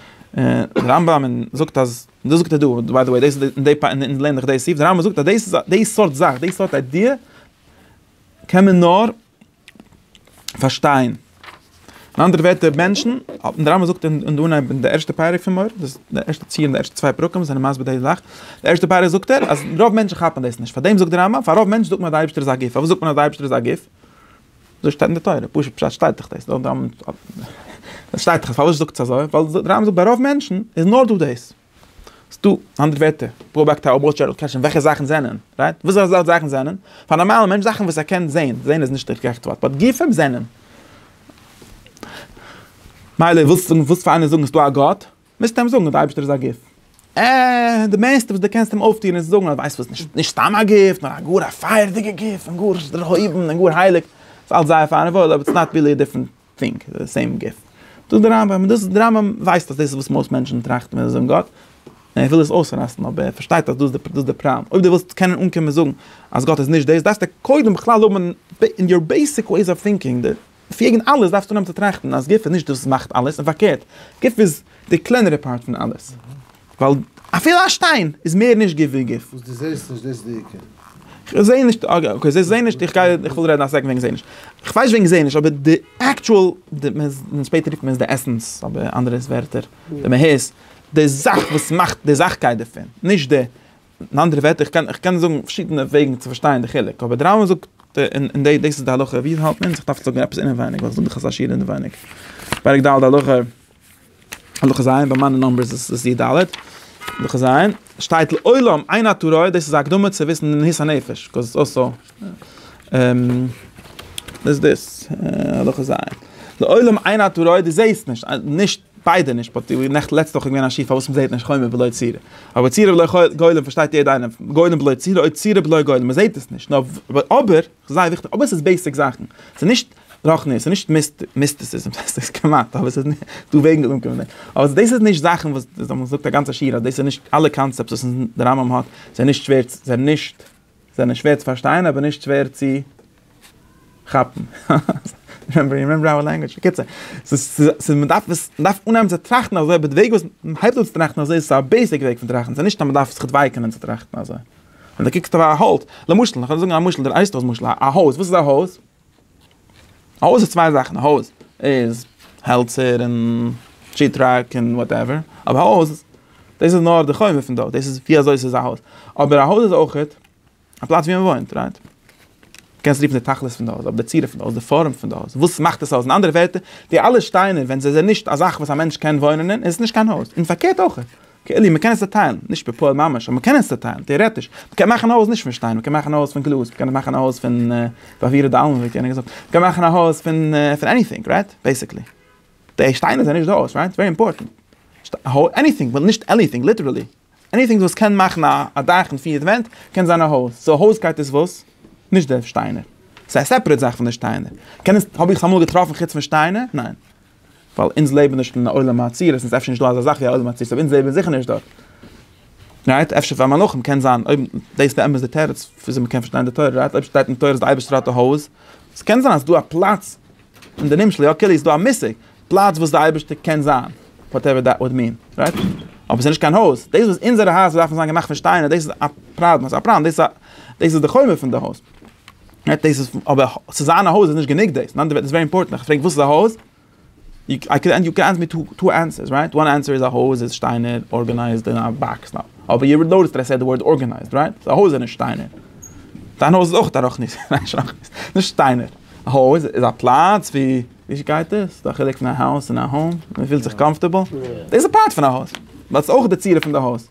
די רמב ם און זאגט אז, דאס זאגט ער דא, ביי די וועי דאס איז די פאר אונז לערנען דאך דאס סעיף, די רמב ם זאגט אז דאס איז א די סארט זאך, די סארט איידיע קען מען נאר. פארשטיין. אין אנדערע ווערטער מענטשן, דער רמבם זאגט אין דא אין אייוועלט די ערשטע פרק פון מור, דאס די ערשטע ציר אין די ערשטע צוויי פרקים זענען מסביר די זאך, די ערשטע פרק זאגט ער אז רוב מענטשן כאפן דאס נישט, פארדעם זאגט דער רמבם פאר רוב מענטשן זאגט מען אז די אייבערשטער איז א גוף, פארוואס זאגט מען אז די אייבערשטער איז א גוף? אזוי שטייט אין די תורה, פשוט פשט שטייט דאך דאס, דאס שטייט דאך, פארוואס זאגט עס אזוי? ווייל דער רמבם זאגט ביי רוב מענטשן איז נאר דא דאס. ס'דא אנדערע ווערטער, פראבאקטאר אויב ווילסט שארלאט קעשן וועלכע זאכן זענען, רייט? וואס אזאלכע זאכן זענען? פאר א נארמאלע מענטש זאכן וואס ער קען זעהן, זעהן איז נישט די גערעכטע ווארט, באט גופים זענען. מילא ווילסט זאגן ווילסט פאר איינער זאגן ס'דא א גאט, מוזטו אים זאגן אז די אייבערשטער איז א גוף. אה, די מערסטע וואס די קענסט אים אויפטוען איז זאגן אז ווייסט וואס נישט נישט סתם א גוף נאר א גאר א פייערדיגע גוף און גאר דערהויבן און גאר הייליג. ס'אלץ זייער פיין און וואויל אבער איטס נאט רילי א דיפרענט פונקט די סעים גוף. זאגט דער רמב ם, דאס דער רמב ם ווייסט אז דאס איז וואס מאסט מענטשן טראכטן ווען זיי זאגן גאט, און ער וויל דאס אויסרייסן, אבער ער פארשטייט אז דאס איז דאס דער פראבלעם, אויב דו ווילסט קענען אנקומען זאגן אז גאט איז נישט דאס, דארפסטו קודם בכלל האבן אין יור בעיסיק וועיס אוו טינקינג, די לפי עגענד אלעס דארפסטו אנהייבן צו טראכטן אז גוף איז נישט דאס וואס מאכט אלעס, און פארקערט, גוף איז די קלענערע פארט פון אלעס. ווייל אפילו א שטיין איז מער נישט גוף ווי גוף. וואס דו זעסט נישט דאס איז די עיקר. כ'זע נישט, אקעי זע זע נישט, כ'וויל רעדן א סעקונד וועגן זע נישט. כ'ווייס נישט וועגן זע נישט אבער די עקטשועל, די, שפעטער רופט מען עס די עסענס אדער אנדערע ווערטער, די מהות, די זאך וואס מאכט די זאכקייט דערפון, נישט די, אין אנדערע ווערטער, כ'קען כ'קען זאגן פארשידענע וועגן צו פארשטיין די חילוק, אבער די רמב ם זאגט, און דאס איז די הלכה ווי עס האלט מען, זיך דארף זאגן עפעס אינעווייניג, ווייל עס איז דא דאך אזא שיעור אינעווייניג, פרק ד' הלכה. הלכה ז', ביי מיינע נומבערס איז עס י ד. הלכה ז', שטייט לעולם עיין הטורי, דאס איז א הקדמה צו וויסן די מהות הנפש, קאוז איטס אלסא, איז דאס, הלכה ז', לעולם עיין הטורי, דו זעסט נישט, נישט, ביידע נישט, באט ווי נעכטן, לעצטע וואך איז געווען א שיעור פארוואס מען זעט נישט חומר בלא צורה. אבער צורה בלא גולם פארשטייט יעדע איינער, גולם בלא צורה, אוי צורה בלא גולם, מען זעט עס נישט, נאר אבער, זייער וויכטיג, אבער עס איז בעיסיק זאכן, עס איז נישט רוחניות, עס איז נישט מיסטיסיזם, עס איז כמעט, אבער עס איז דא וועגן ווי מען קומט דערמיט, אבער דאס איז נישט זאכן וואס דאס וואס מען זאגט א גאנצע שיעור אז דאס איז נישט אלע קאנצעפטס וואס די רמב ם האט זענען נישט שווער צו זענען נישט זענען שווער צו פארשטיין אבער נישט שווער צו כאפן, בקיצור, ס'איז מען דארף עס מען דארף אנהייבן צו טראכטן אזוי אבער די וועג וואס מען הייבט אן צו טראכטן אזוי איז עס א בעיסיק וועג פון טראכטן, עס איז נישט אז מען דארף זיך דווייקענען צו טראכטן אזוי. און דער קוקט אויף א האלץ, למשל, איך וועל זאגן א משל, דער אייסט אויס משל, א הויז, וואס איז א הויז? א הויז איז צוויי זאכן, א הויז איז העלצער און שיעט-ראק און וואטעווער, אבער א הויז, דאס איז נאר די חומר פון דארט, דאס איז ווי אזוי עס איז א הויז, אבער א הויז איז אויכעט א פלאץ ווי מען וואוינט, רייט? קענסט רופן די תכלית פון די הויז, אבער די צורה פון די הויז, די פארעם פון די הויז, וואס מאכט דאס הויז, אין אנדערע ווערטער, די אלע שטיינער ווען זיי זענען נישט א זאך וואס א מענטש קען וואוינען אין, איז עס נישט קיין הויז, און פארקערט אויכעט. כעלעם, מען קען עס צעטיילן, נישט בפועל ממש, אבער מען קען עס צעטיילן, טעארעטיש, מען קען מאכן א הויז נישט פון שטיין, מען קען מאכן א הויז פון גלאז, מען קען מאכן א הויז פון פאפירע דאלמען ווי האט יענער געזאגט, מען קען מאכן א הויז פון פון עניטינג, רייט? בעיסיקלי. די שטיינער זענען נישט די הויז, רייט? ווערי אימפארטענט. עניטינג, ווייל נישט עליטינג, ליטערעלי. עניטינג וואס קען מאכן א א דאך און פיר ווענט, קען זיין א הויז. סאו הויזקייט איז וואס? נישט די שטיינער. ס'איז א סעפערעט זאך פון די שטיינער. קען עס, האב איך עס אמאל געטראפן חוץ פון שטיינער? ניין. ווייל אונז לעבן נישט אין א עולם העצירות, און ס'איז אפשר נישט דא אזא זאך ווי א עולם העצירות, אבער אונז לעבן זיכער נישט דארט. רייט? אפשר פאר מלאכים קען זיין, אויב דאס איז באמת די תירוץ וויאזוי מ'קען פארשטיין די תורה, רייט? אויב שטייט אין תורה אז די אייבערשטער האט א הויז, עס קען זיין אז ס'דא א פלאץ, אין די נמשל, יא כאילו איז דא א מושג, פלאץ וואס די אייבערשטער קען זיין, וואטעווער דעט וואלד מין, רייט? אבער ס'איז נישט קיין הויז. דאס וואס אונזערע הייזער דארפן זיין געמאכט פון שטיינער, דאס איז א פראבלעם, ס'איז א פראבלעם, דאס איז דאס איז די חומר פון די הויז. דאס איז אבער צו זיין א הויז איז נישט גענוג דאס, נאנט דעוועט איז ווערי אימפארטענט, איך פרעג וואס איז א הויז? איי קען יו קען ענס מי טו ענסערס רייט, וואן ענסער איז א הויז איז שטיינער ארגענייזד אין א באקס נאו, אבער יו נאוטיסט דעט איי סעד דע ווארד ארגענייזד רייט, סאו א הויז איז נישט שטיינער. דיין הויז איז אויך א רחנית, ניין שרחנית, נישט שטיינער. א הויז איז א פלאץ ווי, ווי גייט דאס? ס'איז דא א חילוק פון א האוז און א האום? מ'פילט זיך קאמפארטעבל? דאס איז פארט פון א הויז, באט ס'איז אויך די צורה פון די הויז.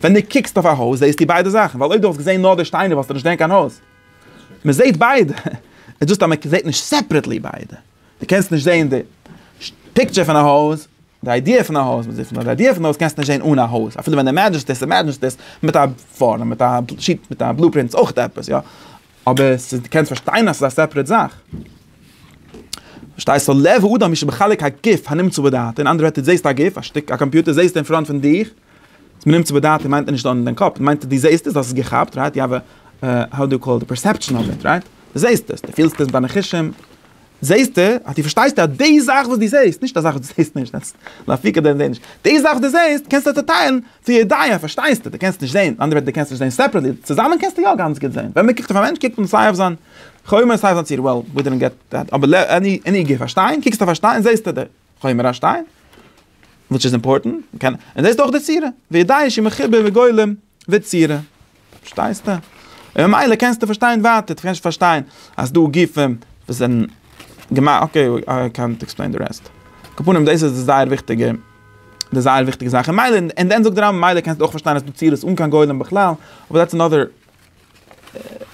ווען דו קוקסט אויף א הויז זעהסטו ביידע זאכן, ווייל אויב דו וואלסט געזעהן נאר די שטיינער וואלסטו נישט געזעהן קיין הויז. מען זעהט ביידע, איז דאס אז מען זעהט נישט סעפרעטלי ביידע. דו קענסט נישט זעהן די פיקטשער פון א הויז, די איידיע פון א הויז, די איידיע פון א הויז קענסטו נישט זעהן אן א הויז, אפילו ווען אימעדזשענסט עס, אימעדזשענסט עס מיט א פארעם, מיט א שיט, מיט א בלופרינט איז אויך עפעס, יא. אבער עס איז, דו קענסט פארשטיין אז עס איז א סעפרעט זאך. פארשטייסט? לב האדם איז שבחלק הגוף הנמצא בדעתו, אין אנדערע ווערטער, דו זעהסט א גוף, א שטיק, א קאמפיוטער זעהסטו אין פראנט פון דיך, אז מ'נעמט צו באדייטן מיינט ער נישט דאן אין דיין קאפ, מיינט ער דו זעהסט עס, האסט עס געכאפט, רייט? יו האוו, האו דו קאל איט, פערסעפשאן אוו איט, רייט? דו זעהסט עס, דו פילסט עס מיט דיינע חושים, זעהסטו, אז דו פארשטייסט אז די זאך וואס דו זעהסט, נישט א זאך וואס דו זעהסט נישט, דעטס לאפיקא דען זעהן נישט, די זאך וואס דו זעהסט קענסטו צוטיילן צו ידיעה, פארשטייסטו, דו קענסט נישט זעהן, מיט אנדערע ווערטער דו קענסט נישט זעהן סעפערעטלי, צוזאמען קענסטו יא גאנץ גוט זעהן, ווען מ'קוקט אויף א מענטש קוקט מען סיי אויף זיין חומר סיי אויף זיין צורה, well we didn't get that, אבער עני גוף א שטיין, קוקסט אויף א שטיין זעהסטו די. חומר השטיין, וויטש איז אימפארטענט, און דאס איז דאך די צורה, וידעי שמחובר בגולם וצורה, פארשטייסטע? און ממילא קענסטע פארשטיין ווייטער, דו קענסט פארשטיין אז דא גופים וואס זענען געמאכט, אקעי איי קענט עקספלעין די רעסט, קאפאנעם דאס איז די זייער וויכטיגע, די זייער וויכטיגע זאך, און ממילא, און דען זאגט די רמב ם ממילא קענסטו אויך פארשטיין אז ס'איז דא צירות אן קיין גולם בכלל, אבער דעטס אנאדער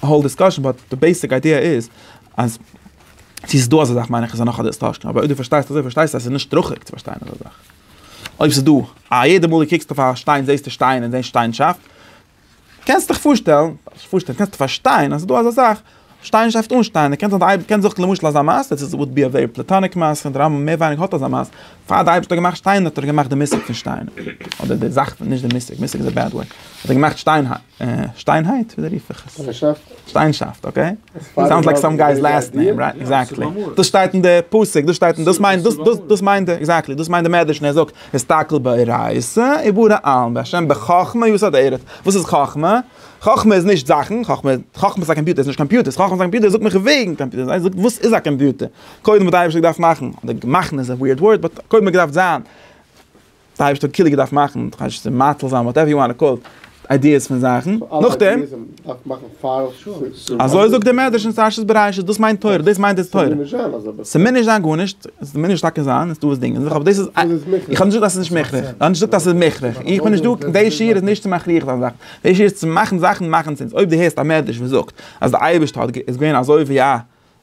האול דיסקאשען באט די בעיסיק איידיע איז אז צו ס'איז דא אזא זאך מיין איך איז נאך א דיסטארשען אבער אויב דו פארשטייסט אזוי פארשטייסטו אז ס'איז נישט הכרחי צו פארשטיין אזא זאך אויב ס'איז דא א יעדע מאל דו קוקסט אויף א שטיין זעסטו שטיין און זען שטיינשאפט קענסט דיך פארשטעלן נישט פארשטעלן קענסט פארשטיין אז ס'איז דא אזא זאך שטיינשאפט אן שטיין און קענסט אויב קענסט זיך למשל אזא מעשה דאס איז וואלט בי א ווערי פלעטאניק מעשה און די רמב ם מער ווייניגער האט אזא מעשה פאר די אייבערשטער האט געמאכט שטיינער האט ער געמאכט די מושג פון שטיין אדער די זאך פון נישט די מושג מושג איז א בעד ווארד האט ער געמאכט שטיין שטיינהייט? וויאזוי רוף איך עס? שטיינסאפט. שטיינסאפט, אקעי. סאונדס לייק סאם גיי'ס לאסט נעים, רייט? עקזעקטלי. דאס שטייט אין די פסוק, דאס שטייט אין דאס מיינט דאס דאס דאס מיינט ער, עקזעקטלי, דאס מיינט די מדרש און ער זאגט, הסתכל באורייתא ובורא עלם, והשם בחכמה יסד ארץ. וואס איז חכמה? חכמה איז נישט זאכן, חכמה חכמה איז א קאמפיוטער, עס איז נישט קאמפיוטערס, חכמה איז א קאמפיוטער, ער זאגט מיך וועגן קאמפיוטערס, זיי זאגט וואס איז א קאמפיוטער? קודם האט די אייבערשטער געדארפט מאכן, אדער מאכן איז א וויערד ווארד, באט קודם האט געדארפט זיין. די אייבערשטער האט קילע געדארפט מאכן, כ'ווייס נישט צו מאציל זיין, וואטעווער יו וואנט טו קאל איט, איידיעס פון זאכן, נאכדעם, אזוי זאגט דער מדרש אין פרשת בראשית, דאס מיינט תורה, דאס מיינט די תורה, ס'מוז נישט זיין גארנישט, ס'מוז טאקע זיין, איז דא וואס דינגען זיך, אבער דאס איז, איך האב נישט געזאגט אז ס'איז נישט מוכרח, איך האב נישט געזאגט אז ס'איז מוכרח, איך בין נישט דא, די שיעור איז נישט צו מכריח זיין זאכן, די שיעור איז צו מאכן זאכן מאכן סענס, אויב דו הערסט א מדרש וואס זאגט אז די אייבערשטער איז געווען אזוי ווי א.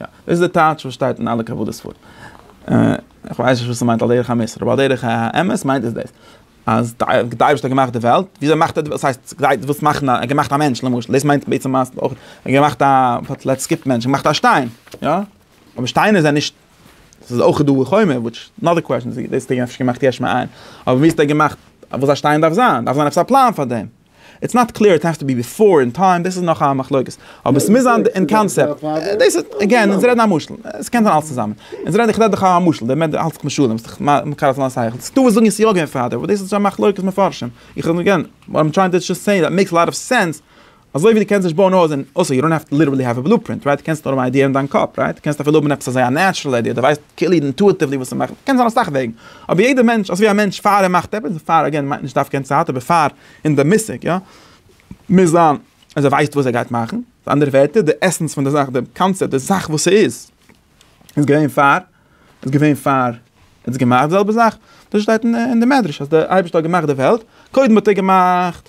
יא, דאס איז די טייטש וואס שטייט אין אלע קבלה ספרים. איך ווייס נישט וואס עס מיינט על דרך המוסר, אבער על דרך האמת מיינט עס דאס, אז די אייבערשטער האט געמאכט די וועלט, וויאזוי מאכט ער די וועלט, ס'הייסט געדייט וואס מאכן א, ער האט געמאכט א מענטש למשל, דאס מיינט בעצם אז אויך ער האט געמאכט א, לעטס סקיפ מענטש, ער האט געמאכט א שטיין, יא? אבער שטיינער זענען נישט, עס איז אויך דא חומר, וויטש אנאדער קוועשן, דאס האט ער אפשר געמאכט יש מאין, אבער ווי האט ער געמאכט וואס א שטיין דארף זיין, דארף זיין עפעס א פלאן פאר דעם. איטס נאט קלעיר איט העסט טו בי ביפאר אין טיים דאס איז נאך א מחלוקת אבער עס מוז זיין אין קאנסעפט דאס איז אגעין אונז רעדן א משל עס קען זיין אלס צוזאמען אונז רעדן איך רעד דאך א משל דער מענטש האלט זיך משלים ס'איז דאך מקל אויף זיין שכל ס'איז דא וואס זאגן עס יא געווען פארדעם אבער דאס איז שוין מחלוקת מפרשים איך רעד אגעין וואט איים טרייענג טו זשאסט סעי דעט מעיקס אלאט אוו סענס אזוי ווי דו קענסט נישט בויען א הויז און אויסער יו דאנט האוו טו ליטערלי האוו א בלו פרינט רייט דו קענסט נאר האבן א איידיע אין דיין קאפ רייט דו קענסט אפילו האבן עפעס אזוי א נעטשרעל איידיע דו ווייסט כאילו אינטואיטיוולי וואס צו מאכן קען זיין אסאך וועגן אבער יעדער מענטש, אזויווי א מענטש פאר ער מאכט עפעס, פאר אגעין מיינט נישט דווקא אין צייט, אבער פאר אין די מושג יא, מוז זיין אז ער ווייסט וואס ער גייט מאכן, מיט אנדערע ווערטער די עסענס פון די זאך, די קאנצעפט, די זאך וואס ס'איז, איז געווען פאר, איז געווען פאר ער האט עס געמאכט, די זעלבע זאך, דאס שטייט אין די מדרש אז דער אייבערשטער האט געמאכט די וועלט, קודם האט ער געמאכט.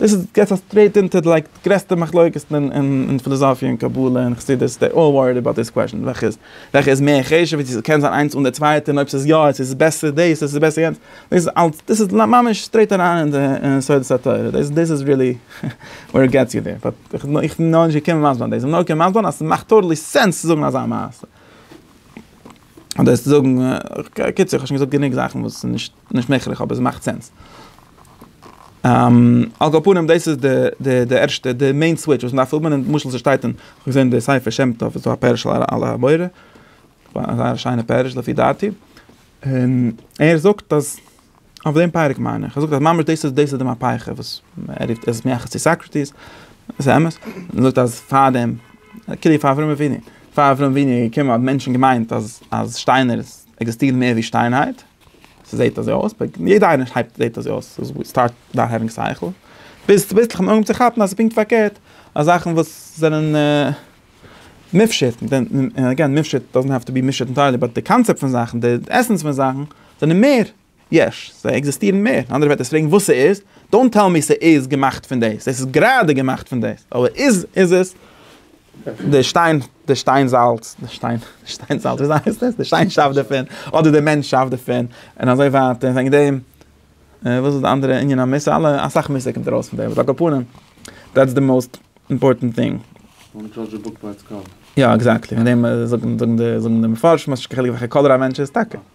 דאס איז געס א סטרעיט אונטער לייק די גרעסטע מחלוקת'ן אין פילאזאפיע און קבלה און חסידות דעי אלל וואריד אבאוט דיס קוועשאן וועלכע איז וועלכע איז מער חשוב און צו ס'קען זיין איינס אן די צווייטע און אויב ס'איז יא און ס'איז בעסער דאס און ס'איז בעסער יענץ דאס איז אלץ דאס איז ממש סטרעיט אריין אין די יסודות התורה דאס דאס איז ריעלי ווער איט געטס יו דער באט איך בין איך בין נאכנישט געקומען מסביר זיין דאס איך בין נאר געקומען מסביר זיין אז ס'מאכט טאטעלי סענס צו זאגן אזא מעשה אדער צו זאגן קיצור כ'האב שוין געזאגט גענוג זאכן וואס איז נישט. נישט מעגליך אבער עס מאכט סענס. על כל פנים דאס איז די די ערשטע די מעין סוויטש וואס מען דארף האבן, למשל ס'שטייט אין כ'האב געזען די ספר שם טוב איז דא א פירוש על הבורא, א זייער שיינע פירוש לפי דעתי, און ער זאגט אז אויף דעם פרק מיין איך, ער זאגט אז ממש דאס איז דאס איז די מהפכה וואס ער רופט עס מייחס צו סאקרעטיס, עס איז אמת, ער זאגט אז פאר דעם כאילו פאר אברהם אבינו, פאר אברהם אבינו איז געקומען האבן מענטשן געמיינט אז אז שטיינער עקזיסטירן מער ווי שטיינהייט, ס'זעהט אזוי אויס, ביי יעדע איינער הייבט זעהט אזוי אויס, סטארט נאו העווינג סייכל, ביז צוביסלעך אנהויבן צו כאפן אז ס'איז פונקט פארקערט, אז זאכן וואס זענען מופשט, און עגעין מופשט דאזענט העוו טו בי מופשט אינטיירלי, באט די קאנצעפט פון זאכן, די עסענס פון זאכן, זענען מער יש, זיי עקזיסטירן מער, און אנדערע ווערטער פרעגן וואס ס'איז, דאונט טעל מי ס'איז געמאכט פון דאס, עס איז גראדע געמאכט פון דאס, אבער איז עס? די שטיין, די שטיין זאלץ, די שטיין, די שטיין זאלץ, וויאזוי הייסט עס? די שטיין שאפט דערפון, אדער די מענטש שאפט דערפון, און אזוי ווייטער, וועגן דעם, וואס איז די אנדערע ענין המוסר? אלע, אסאך מוסר קומט ארויס פון דעם, אבער על כל פנים, דעטס די מאוסט אימפארטענט טינג. דאנט דזשאדזש א בוק ביי איטס קאווער. יא, עקזעקטלי, וועגן דעם זאגן די מפרשים אז ס'נישט קיין חילוק וועלכע קאלער א מענטש איז, טאקע.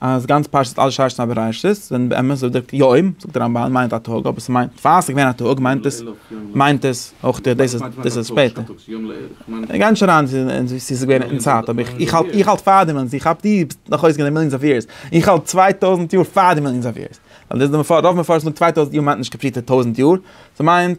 אז גאנץ פרשת אל שרשת א בראשית, ווען באמת די ווארט יום, זאגט די רמב ן, מיינט א טאג, אבער ס'מיינט, פאר ס'געווען א טאג, מיינט עס, מיינט עס, אויך די, דאס איז שפעטער. איך גיי נישט אריין צו צו ס'איז געווען אין צייט, אבער איך איך האלט איך האלט פאר די מעשה, איך האלט דו ביסט נאך אויסגעגאנגען די מיליאנס אוו יערס, איך האלט צוויי טויזנט יאר פאר די מיליאנס אוו יערס, ווייל דאס איז די מפרש, רוב מפרשים זאגן צוויי טויזנט יאר מיינט נישט קאמפליטעט טויזנט יאר, ס'מיינט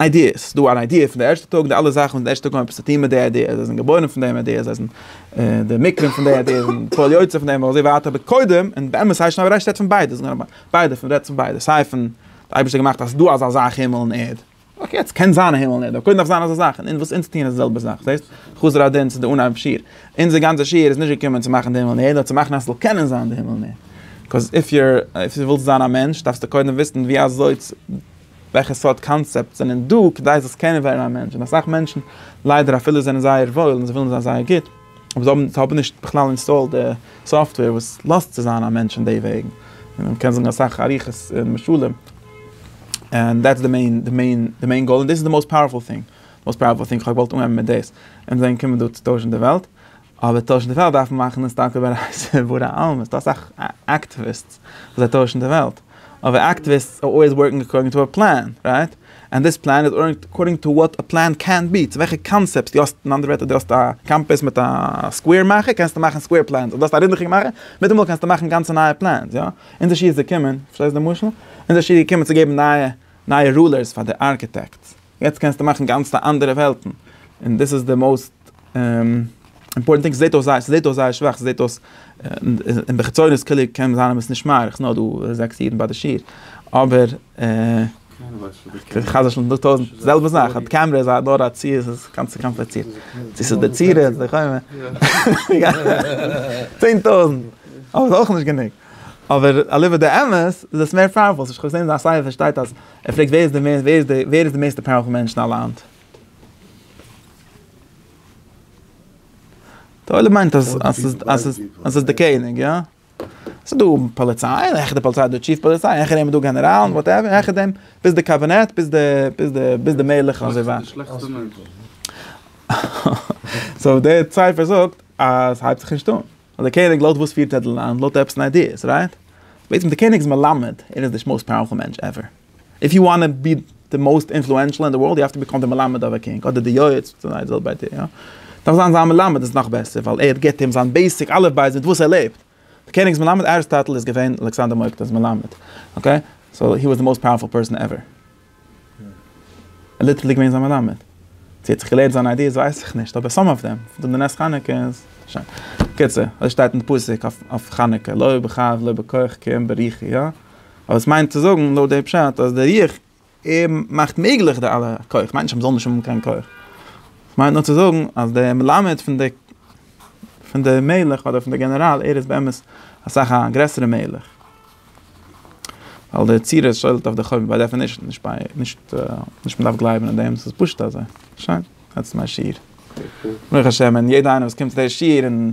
איידיעס, ס'איז דא אן איידיע פון די ערשטע טאג, די אלע זאכן פון די ערשטע טאג האבן עפעס צו טון מיט די איידיע, זיי זענען געבוירן פון דעם איידיע, זיי זענען די מקרים פון די איידיע, זיי זענען פועל יוצא פון דעם אזוי ווייטער, אבער קודם, און באמת הייסט שוין אויב רעדסט רעדט פון ביידע, ביידע פון רעדט פון ביידע, סיי פון די אייבערשטער האט געמאכט אז ס'איז דא אזא זאך הימל און ערד, אקעי יעצט קען זיין א הימל און ערד, אבער קודם דארף זיין אזא זאך, און וואס אונז טוען איז די זעלבע זאך, זעהסט? חזר א דין צו די אנהייב שיעור, אונזער גאנצע שיעור איז נישט געקומען צו מאכן די הימל און ערד, נאר צו מאכן אז ס'זאל קענען זיין די הימל און ערד, קאז איף יור, אויב די ווילסט זיין א מענטש דארפסטו קודם וויסן ווי אזוי צו. וועלכע סארט קאנצעפטס זענען דא כדי זאלסט קענען ווערן א מענטש, און אסאך מענטשן ליידער אפילו זענען זייער וואויל און זיי ווילן זיין זייער גוט, אבער זיי האבן זיי האבן נישט בכלל אינסטאלד די סאפטוועיר וואס לאזט צו זיין א מענטש אין די וועגן, און מען קען זאגן אסאך אריכות און משלים, און דעטס די מעין די מעין די מעין גאול און דאס איז די מאוסט פאוערפול טינג, מאוסט פאוערפול טינג, כ'האב געוואלט אנהייבן מיט דאס, און דאן קומען דא צו טוישן די וועלט. אבער טוישן די וועלט דארף מען מאכן עס טאקע איבער א סברא עלמא, ס'דא אסאך אקטיוויסטס וואס זיי טוישן די וועלט, אבער אקטיוויסטס אר אלוועיס ווארקינג אקארדינג טו א פלאן, רייט? ענד דיס פלאן איז אר אקארדינג טו וואט א פלאן קען בי, צו וועלכע קאנצעפטס דו האסט, אין אנדערע ווערטער דו האסט א קאמפעס מיט א סקווער מאכער קענסטו מאכן סקווער פלענס, אויב דו האסט א רינדעכיגע מאכער מיטאמאל קענסטו מאכן גאנצע נייע פלענס, יא? אונזער שי איז געקומען, פארשטייסט די משל? אונזער שי איז געקומען צו געבן נייע נייע רולערס פאר די ארקיטעקטס, יעצט קענסטו מאכן גאנצע אנדערע וועלטן, און דאס איז די מאוסט. אימפארטענט טינג, ס'זעט אויס ס'זעט אויס זייער שוואך, ס'זעט אויס אין די חיצוניות קוליעס קען זיין אז עס נישט מאריך, ס'נאר דא זעקס אידן ביי די שיעור, אבער חס ושלום דא טויזנט, זעלבע זאך, א קעמרע איז נאר א צי, עס איז גאנץ קאמפליצירט, צו ס'איז די צורה, צו ס'איז די חומה, צען טויזנט, אבער ס'איז אויך נישט גענוג, אבער אליבא דאמת איז עס מער פאוערפול, כ'האב געזען אז א סיי ווער שטייט אז ער פרעגט ווער איז די מערסט, ווער איז די מערסטע פאוערפול מענטש אין א לאנד? די עולם מיינט אז ס'איז די קעניג, יא. ס'איז דא פאליציי, און העכער די פאליציי איז דא טשיף פאליציי, העכער דעם איז דא גענעראלן, וואטעווער, און העכער דעם ביז די קאבינעט, ביז די, ביז די, ביז די מלך און אזוי ווייטער. סאו דער ציפער זאגט אז ס'הייבט זיך נישט אן. אז די קעניג לויט וואס פירט ער די לאנד, לויט עפעס אן איידיעס, רייט? בעצם די קעניג איז מלמד, ער איז די מאוסט פאוערפול מענטש עווער. איף יו וואנט טו בי די מאוסט אינפלוענשעל אין די ווארלד יו האוו טו ביקאם די מלמד אוו א קינג אדער די יועץ פון זיין זעלבע איידער יא דארף זיין זיין מלמד איז נאך בעסער ווייל ער גיבט אים זיין בעיסיק אלף בית מיט וואס ער לעבט די קעניג'ס מלמד אריסטאטל איז געווען אלכסנדר מוקדון'ס מלמד אקעי סאו הי וואס די מאוסט פאוערפול פערסאן עווער ער ליטערלי געווען זיין מלמד צו ער האט זיך געלערנט זיינע איידיעס ווייס איך נישט אבער סאם אוו דעם פון די נס חנוכה איז שוין קיצור אזוי שטייט אין די פסוק אויף חנוכה לא בכח לא בכח כי אם בריחי יא. אבער עס מיינט צו זאגן לויט די פשט אז די רוח ער מאכט מעגליך די אלע כח, כ'מיין נישט אז מ'זאל נישט האבן קיין כח, כ'מיין נאר צו זאגן אז דער מלמד פון די פון די מלך אדער פון די גענעראל ער איז באמת אסאך א גרעסערע מלך, ווייל די יצירות שולט אויף די חורבן ביי דעפענישן, נישט ביי נישט נישט מ'דארף גלייבן אין דעם ס'איז פשוט אזוי, שוין דעטס מיי שיעור, ברוך השם און יעדע איינער וואס קומט צו די שיעור און